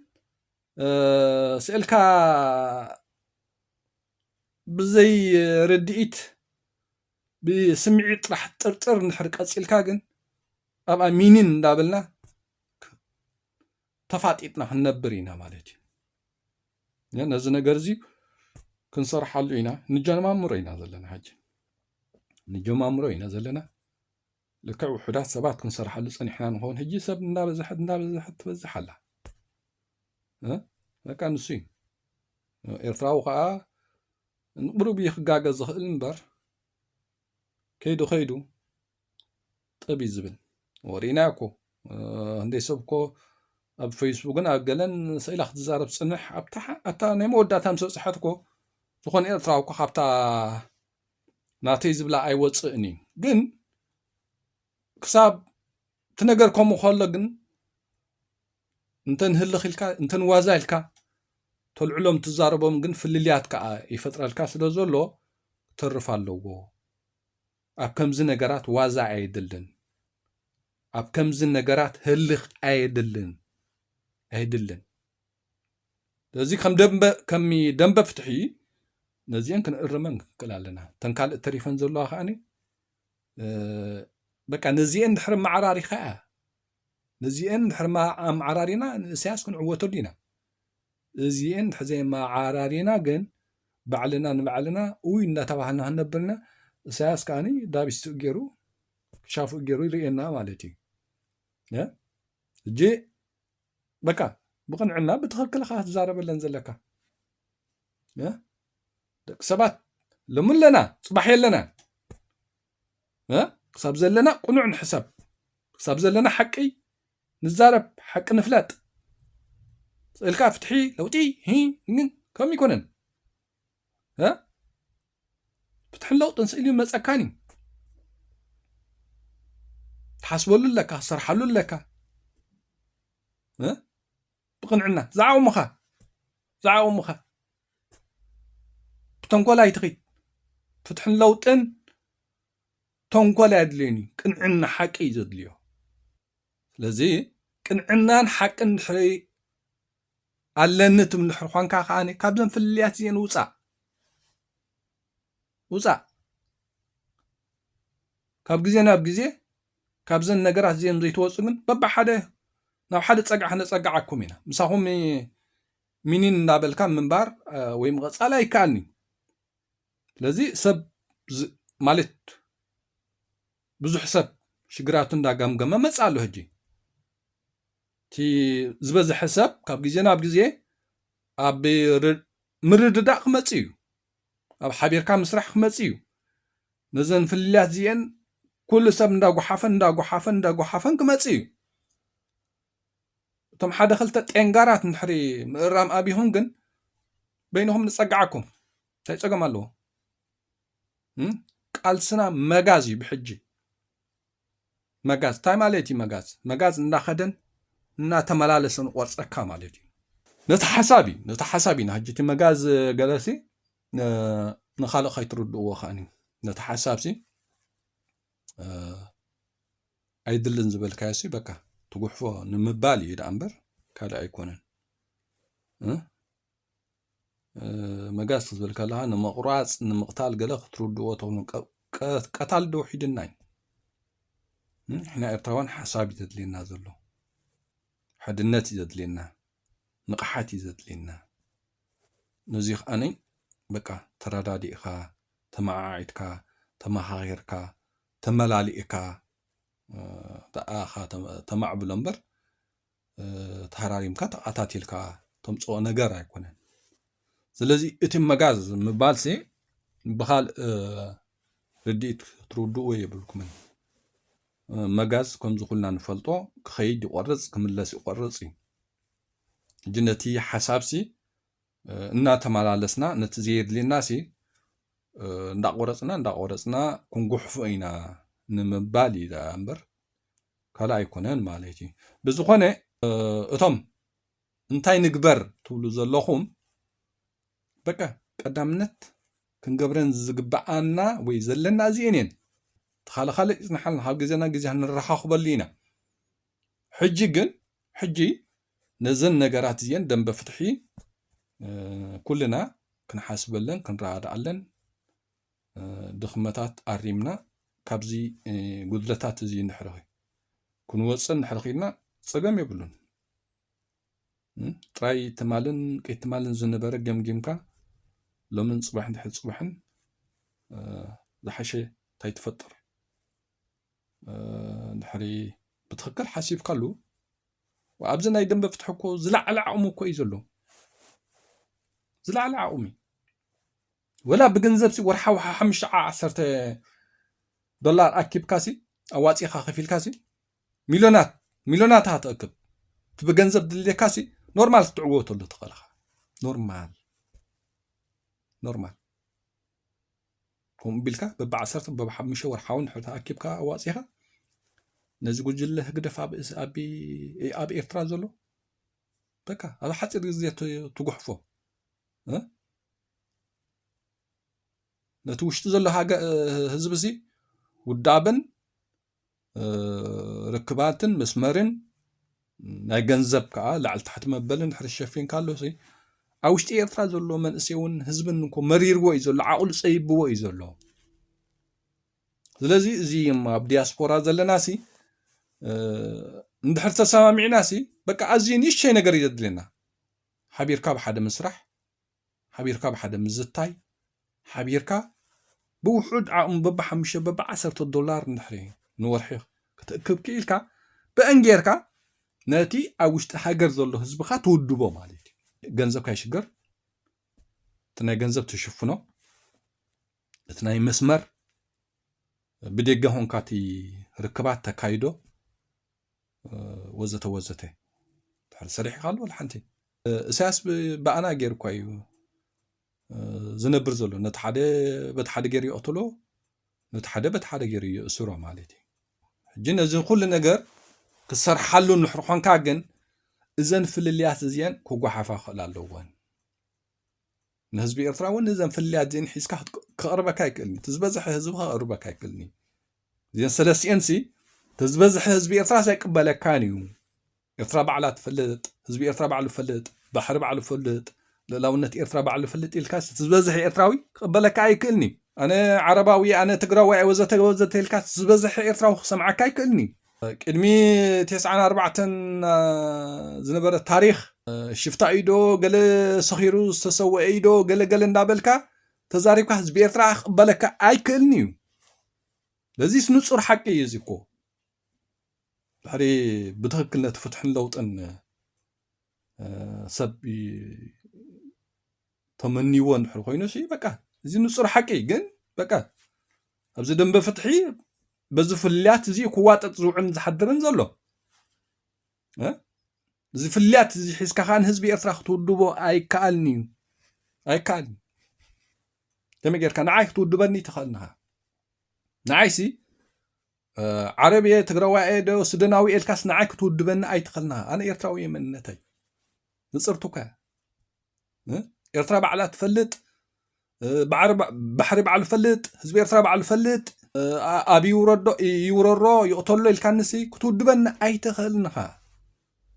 Speaker 1: ስእልካ ብዘይ ርድኢት ብስምዒት ጥራሕ ጥርጥር እንድሕር ቀፂልካ ግን ኣብኣ ሚኒን እንዳበልና ተፋጢጥና ክንነብር ኢና ማለት እዩ። ነዚ ነገር እዚ ክንሰርሓሉ ኢና ንጀማምሮ ኢና ዘለና ሕጂ ንጀማምሮ ኢና ዘለና ልክዕ ውሑዳት ሰባት ክንሰርሓሉ ፀኒሕና ንኸውን ሕጂ ሰብ እንዳበዝሐት እንዳበዝሐት ትበዝሕ ኣላ በቃ ንሱ እዩ ኤርትራዊ ከዓ ንቕሩብ እዩ ክጋገ ዝኽእል እምበር ከይዱ ከይዱ ጥብ እዩ ዝብል ወሪእናዮ እኮ እንደይ ሰብ እኮ ኣብ ፌስቡክን ኣብ ገለን ስኢላ ክትዛረብ ፅንሕ ኣብታ ናይ መወዳእታ ምስ በፅሐት እኮ ዝኾነ ኤርትራዊ እኮ ካብታ ናተይ ዝብላ ኣይወፅእን እዩ ግን ክሳብ እቲ ነገር ከምኡ ከሎ ግን እንተ ንህልኽ ኢልካ እንተ ንዋዛ ኢልካ ተልዕሎም ትዛረቦም ግን ፍልልያት ከኣ ይፈጥረልካ ስለ ዘሎ ክተርፍ ኣለዎ። ኣብ ከምዚ ነገራት ዋዛ ኣየድልን። ኣብ ከምዚ ነገራት ህልኽ ኣየድልን ኣይድልን። ስለዚ ከም ደንበ ከም ደንበ ፍትሒ ነዚኤን ክንእርመን ክንክእል ኣለና። እተን ካልእ ተሪፈን ዘለዋ ከኣኒ በቃ ነዚኤን ድሕሪ መዓራሪኻ ነዚኤን ድሕሪ ኣመዓራሪና ንእስያስ ክንዕወተሉ ኢና እዚኤን ድሕሪ ዘይመዓራሪና ግን ባዕልና ንባዕልና ውይ እናተባህልና ክንነብርና እሳያስ ከዓኒ ዳቢስትኡ ገይሩ ክሻፍኡ ገይሩ ይርእየና ማለት እዩ እጂ በቃ ብቕንዕና ብትኽክል ኢኻ ክትዛረበለን ዘለካ ደቂ ሰባት ሎሚ ኣለና ፅባሕ የለና ክሳብ ዘለና ቅኑዕ ንሕሰብ ክሳብ ዘለና ሓቂ ንዛረብ ሓቂ ንፍለጥ ስእልካ ፍትሒ ለውጢ ግን ከም ይኮነን ፍትሕን ለውጥን ስእሊ መፀካን እዩ ትሓስበሉ ኣለካ ትሰርሓሉ ኣለካ ብቕንዕና ዝዓቕሙኻ ዝዓቕሙኻ ብተንኮል ኣይትኺድ ፍትሕን ለውጥን ተንኮል ኣየድልዮን እዩ ቅንዕና ሓቂ እዩ ዘድልዮ ስለዚ ቅንዕናን ሓቅን ድሕሪ ኣለኒ ትብል ድሕሪ ኳንካ ከኣ ካብዘን ፍልልያት እዚኤን ውፃእ ውፃእ ካብ ግዜ ናብ ግዜ ካብዘን ነገራት እዚኤን ዘይትወፁ ግን በብሓደ ናብ ሓደ ፀግዒ ከነፀግዓኩም ኢና ምሳኹም ሚኒን እንዳበልካ ምንባር ወይ ምቐፃል ኣይከኣልንዩ ስለዚ ሰብ ማለት ብዙሕ ሰብ ሽግራቱ እንዳገምገመ መጽ ኣሎ ህጂ እቲ ዝበዝሐ ሰብ ካብ ግዜ ናብ ግዜ ኣብ ምርድዳእ ክመጽእ እዩ ኣብ ሓቢርካ ምስራሕ ክመጽእ እዩ ነዘን ፍልልያት እዚኤን ኩሉ ሰብ እንዳጓሓፈን እንዳጓሓፈን እንዳጓሓፈን ክመጽእ እዩ እቶም ሓደ ክልተ ጤንጋራት ንድሕሪ ምእራም ኣብኹም ግን በይንኹም ንጸግዓኩም እንታይ ጸገም ኣለዎ ቃልስና መጋዝ እዩ ብሕጂ መጋዝ እንታይ ማለት እዩ መጋዝ መጋዝ እናኸደን እናተመላለሰን ቆርፀካ ማለት እዩ ነቲ ሓሳብ እዩ ነቲ ሓሳብ ኢና ሕጂ እቲ መጋዝ ገለሲ ንካልእ ከይትርድእዎ ከዓኒ ነቲ ሓሳብ ሲ ኣይድልን ዝበልካዮ ሲ በቃ ትጉሕፎ ንምባል እዩ ደኣ እምበር ካልእ ኣይኮነን መጋዝ ትብል ከለኻ ንምቑራፅ ንምቕታል ገለ ክትርድዎ ትኽእሉ ቀታሊ ዶ ውሒድና እዩ ንሕና ኤርትራውያን ሓሳብ እዩ ዘድልየና ዘሎ ሓድነት እዩ ዘድልየና ንቕሓት እዩ ዘድልየና ነዚ ከዓኒ በቃ ተረዳዲእኻ ተመዓዒድካ ተመኻኺርካ ተመላሊእካ ተኣኻ ተማዕብሎ እምበር ተሃራሪምካ ተቃታቲልካ ተምፅኦ ነገር ኣይኮነን ስለዚ እቲ መጋዝ ምባል ሲ ብካልእ ርድኢት ክትርድእዎ የብልኩምን መጋዝ ከምዚ ኩልና ንፈልጦ ክኸይድ ይቆርፅ ክምለስ ይቆርፅ እዩ እጂ ነቲ ሓሳብ ሲ እናተመላለስና ነቲ ዘየድልየና ሲ እንዳቆረፅና እንዳቆረፅና ክንጉሕፎ ኢና ንምባል እዩ እምበር ካልእ ኣይኮነን ማለት እዩ ብዝኾነ እቶም እንታይ ንግበር ትብሉ ዘለኹም በቃ ቀዳምነት ክንገብረን ዝግብኣና ወይ ዘለና እዚኤን እየን ተኻለ ካልእ ይፅናሓልና ካብ ግዜና ግዜ ንረኻኽበሉ ኢና ሕጂ ግን ሕጂ ነዘን ነገራት እዚኤን ደንበ ፍትሒ ኩልና ክንሓስበለን ክንረዳኣለን ድኽመታት ኣሪምና ካብዚ ጉድለታት እዚ እንድሕር ክንወፅእ እንድሕር ኺኢልና ፀገም የብሉን። ጥራይ ትማልን ቅይትማልን ዝነበረ ገምጊምካ ሎምን ፅባሕ እንድሕር ፅባሕን ዝሓሸ እንታይ ትፈጥር እንድሕሪ ብትኽክል ሓሲብካሉ ኣብዚ ናይ ደንበ ፍትሒ እኮ ዝለዓለ ዓቕሚ እኮ እዩ ዘሎ ዝለዓለ ዓቕሚ ወላ ብገንዘብሲ ወርሓዊ ሓሓምሽተ ዓዓሰርተ ዶላር ኣኪብካሲ ኣዋጺእኻ ከፊልካሲ ሚልዮናት ሚልዮናት ኢኻ ትእክብ እቲ ብገንዘብ ድልየካሲ ኖርማል ክትዕወተሉ ትኽእል ኢኻ ኖርማል ኖርማል ከምኡ ቢልካ በብዓሰርተ በብሓሙሽተ ወርሓዊ ንሕታ ኣኪብካ ኣዋጺኻ ነዚ ጉጅለ ህግደፍ ኣብ ኤርትራ ዘሎ በቃ ኣብ ሓፂር ግዜ ትጉሕፎ ነቲ ውሽጢ ዘሎ ህዝቢ እዚ ውዳብን ርክባትን መስመርን ናይ ገንዘብ ከዓ ላዕሊ ታሕቲ መበልን ድሕሪ ሸፊንካ ኣሎ ኣብ ውሽጢ ኤርትራ ዘሎ መንእሰይ እውን ህዝብን እኮ መሪርዎ እዩ ዘሎ ዓቕሉ ፀይብዎ እዩ ዘሎ ስለዚ እዚ ኣብ ዲያስፖራ ዘለና ሲ እንድሕር ተሰማሚዕና ሲ በቃ ኣዝዩ ንእሽተይ ነገር እዩ ዘድልየና ሓቢርካ ብሓደ ምስራሕ ሓቢርካ ብሓደ ምዝታይ፣ ሓቢርካ ብውሑድ ዓቕሚ በብሓሙሽተ በብዓሰርተ ዶላር እንድሕሪ ንወርሒ ክትእክብ ክኢልካ ብእን ጌርካ ነቲ ኣብ ውሽጢ ሃገር ዘሎ ህዝብኻ ትውድቦ ማለት እዩ። ገንዘብካ ይሽገር፣ እቲ ናይ ገንዘብ ትሽፍኖ፣ እቲ ናይ መስመር ብደገ ሆንካ እቲ ርክባት ተካይዶ፣ ወዘተ ወዘተ ድሕሪ ሰሪሕካ ኣሎ ወላ ሓንቲ እሳያስ ብኣና ገይሩ እኳ እዩ ዝነብር ዘሎ ነቲ ሓደ በቲ ሓደ ገይሩ ይቕትሎ ነቲ ሓደ በቲ ሓደ ገይሩ ይእስሮ ማለት እዩ ሕጂ ነዚ ኩሉ ነገር ክሰርሓሉ ንሕር ኮንካ ግን እዘን ፍልልያት እዚአን ክጓሓፋ ክኽእል ኣለወን ንህዝቢ ኤርትራ እውን እዘን ፍልልያት እዚአን ሒዝካ ክቕርበካ ኣይክእልን እዩ እቲ ዝበዝሐ ህዝቢ ክቕርበካ ኣይክእልን እዩ እዚአን ሰለስቲኤን ሲ እቲ ዝበዝሐ ህዝቢ ኤርትራ ኣይቅበለካን እዩ ኤርትራ ባዕላ ትፈልጥ ህዝቢ ኤርትራ ባዕሉ ፈልጥ ባሕሪ ባዕሉ ፈልጥ ልእላውነት ኤርትራ ባዕሉ ፈልጥ ኢልካ እቲ ዝበዝሐ ኤርትራዊ ክቕበለካ ኣይክእልን እዩ ኣነ ዓረባዊ ኣነ ትግራዋይ ወዘተ ወዘተ ኢልካ ዝበዝሐ ኤርትራዊ ክሰምዓካ ኣይክእልን እዩ ቅድሚ ቴስዓን ኣርባዕተን ዝነበረ ታሪኽ ሽፍታ እዩ ዶ ገለ ሰኺሩ ዝተሰወአ እዩ ዶ ገለ ገለ እንዳበልካ ተዛሪብካ ህዝቢ ኤርትራ ክቕበለካ ኣይክእልን እዩ ለዚስ ንጹር ሓቂ እዩ እዚ እኮ ድሕሪ ብትኽክል ነቲ ፍትሕን ለውጥን ሰብ ተመንይዎ እንድሕር ኮይኑ ሲ በቃ እዚ ንጹር ሓቂ ግን በቃ ኣብዚ ደንበ ፍትሒ በዚ ፍልያት እዚ ክዋጠጥ ዝውዕን ዝሓድርን ዘሎ እዚ ፍልያት እዚ ሒዝካ ከዓ ንህዝቢ ኤርትራ ክትውድቦ ኣይከኣልን እዩ ኣይከኣልን ከመይ ጌርካ ንዓይ ክትውድበኒ ተኸእልንኻ ንዓይሲ ዓረብ እየ ትግራዋይ እየ ዶ ስደናዊ ኤልካስ ንዓይ ክትውድበኒ ኣይትኸእልንኻ ኣነ ኤርትራዊ እየ መንነተይ ንፅርቱካ ኤርትራ ባዕላ ትፈልጥ ባሕሪ ባዕሉ ፈልጥ ህዝቢ ኤርትራ ባዕሉ ፈልጥ ኣብ ይውረዶ ይውረሮ ይቕተሎ ኢልካንሲ ክትውድበኒ ኣይትኽእልን ኢኻ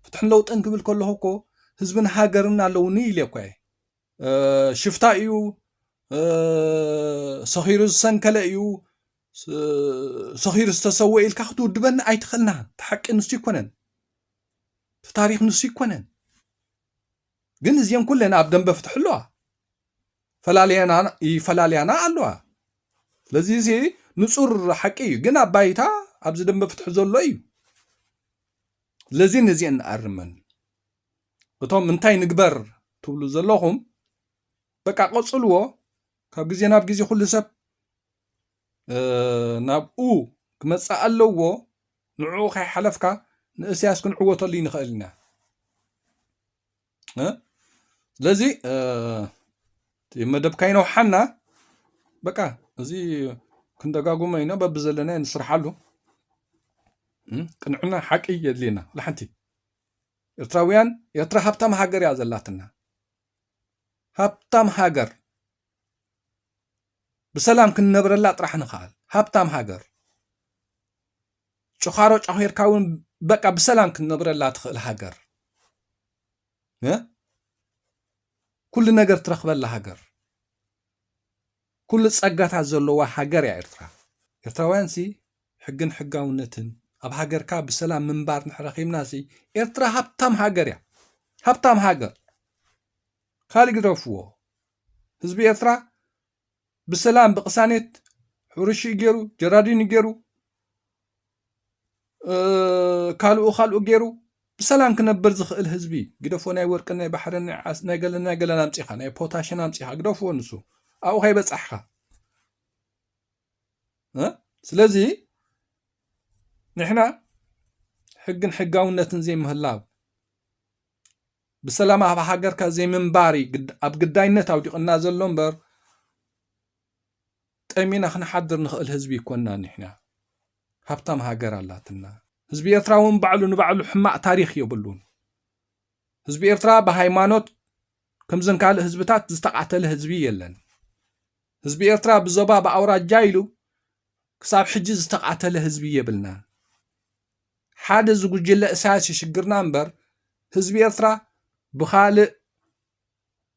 Speaker 1: ፍትሕን ለውጥን ክብል ከለኹ እኮ ህዝብን ሃገርን ኣለውኒ ኢለ እኳ እየ ሽፍታ እዩ ሰኺሩ ዝሰንከለ እዩ ሰኺሩ ዝተሰወ ኢልካ ክትውድበኒ ኣይትኽእልና እቲ ሓቂ ንሱ ይኮነን እቲ ታሪክ ንሱ ይኮነን ግን እዚኤን ኩለን ኣብ ደንበ ፍትሒ ኣለዋ ይፈላልያና ኣለዋ ስለዚ እዚ ንፁር ሓቂ እዩ ግን ኣብ ባይታ ኣብዚ ደንበ ፍትሒ ዘሎ እዩ ስለዚ ነዚኤን ንኣርመን እቶም እንታይ ንግበር ትብሉ ዘለኹም በቃ ቀፅልዎ ካብ ግዜ ናብ ግዜ ኩሉ ሰብ ናብኡ ክመጽእ ኣለዎ ንዕኡ ከይሓለፍካ ንእስያስ ክንዕወተሉ ይንኽእል ኢና ስለዚ መደብካ ይነውሓና በቃ እዚ ክንደጋጉመ ኢና በቢ ዘለና ንስርሓሉ ቅንዕና ሓቂ የድልየና ላሓንቲ ኤርትራውያን ኤርትራ ሃብታም ሃገር እያ ዘላትና ሃብታም ሃገር ብሰላም ክንነብረላ ጥራሕ ንክኣል ሃብታም ሃገር ጭዃሮ ጫኺርካ እውን በቃ ብሰላም ክትነብረላ ትኽእል ሃገር ኩሉ ነገር ትረኽበላ ሃገር ኩሉ ጸጋታት ዘለዋ ሃገር እያ ኤርትራ ኤርትራውያን ሲ ሕግን ሕጋውነትን ኣብ ሃገርካ ብሰላም ምንባር ንሕረኺብና ሲ ኤርትራ ሃብታም ሃገር እያ ሃብታም ሃገር ካልእ ግደፍዎ ህዝቢ ኤርትራ ብሰላም ብቕሳኔት ሕርሽኡ ገይሩ ጀራዲኑ ገይሩ ካልኡ ካልኡ ገይሩ ብሰላም ክነብር ዝኽእል ህዝቢ ግደፎ ናይ ወርቂ ናይ ባሕሪ ናይ ገለን ናይ ገለን ኣምፂኻ ናይ ፖታሽን ኣምፂኻ ግደፎ ንሱ ኣብኡ ከይበፃሕኻ ስለዚ ንሕና ሕግን ሕጋውነትን ዘይምህላው ብሰላም ኣብ ሃገርካ ዘይምንባር እዩ ኣብ ግዳይነት ኣውዲቕና ዘሎ እምበር ጠሚና ክንሓድር ንኽእል ህዝቢ ይኮና ኒሕና ሃብታም ሃገር ኣላትና ህዝቢ ኤርትራ እውን ባዕሉ ንባዕሉ ሕማቕ ታሪኽ የብሉን ህዝቢ ኤርትራ ብሃይማኖት ከምዘን ካልእ ህዝብታት ዝተቓተለ ህዝቢ የለን ህዝቢ ኤርትራ ብዞባ ብኣውራጃ ኢሉ ክሳብ ሕጂ ዝተቓተለ ህዝቢ የብልናን ሓደ እዚ ጉጅለ እሳያስ እዩ ሽግርና እምበር ህዝቢ ኤርትራ ብኻልእ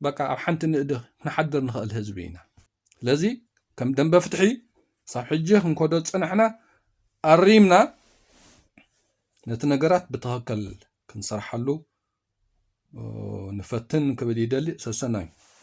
Speaker 1: በቃ ኣብ ሓንቲ ንእዲ ክንሓድር ንኽእል ህዝቢ ኢና ስለዚ ከም ደንበ ፍትሒ ሳብ ሕጂ ክንከዶ ዝጸናሕና ኣሪምና ነቲ ነገራት ብትኸክል ክንሰርሓሉ ንፈትን ክብል ይደሊ ሰሰናዩ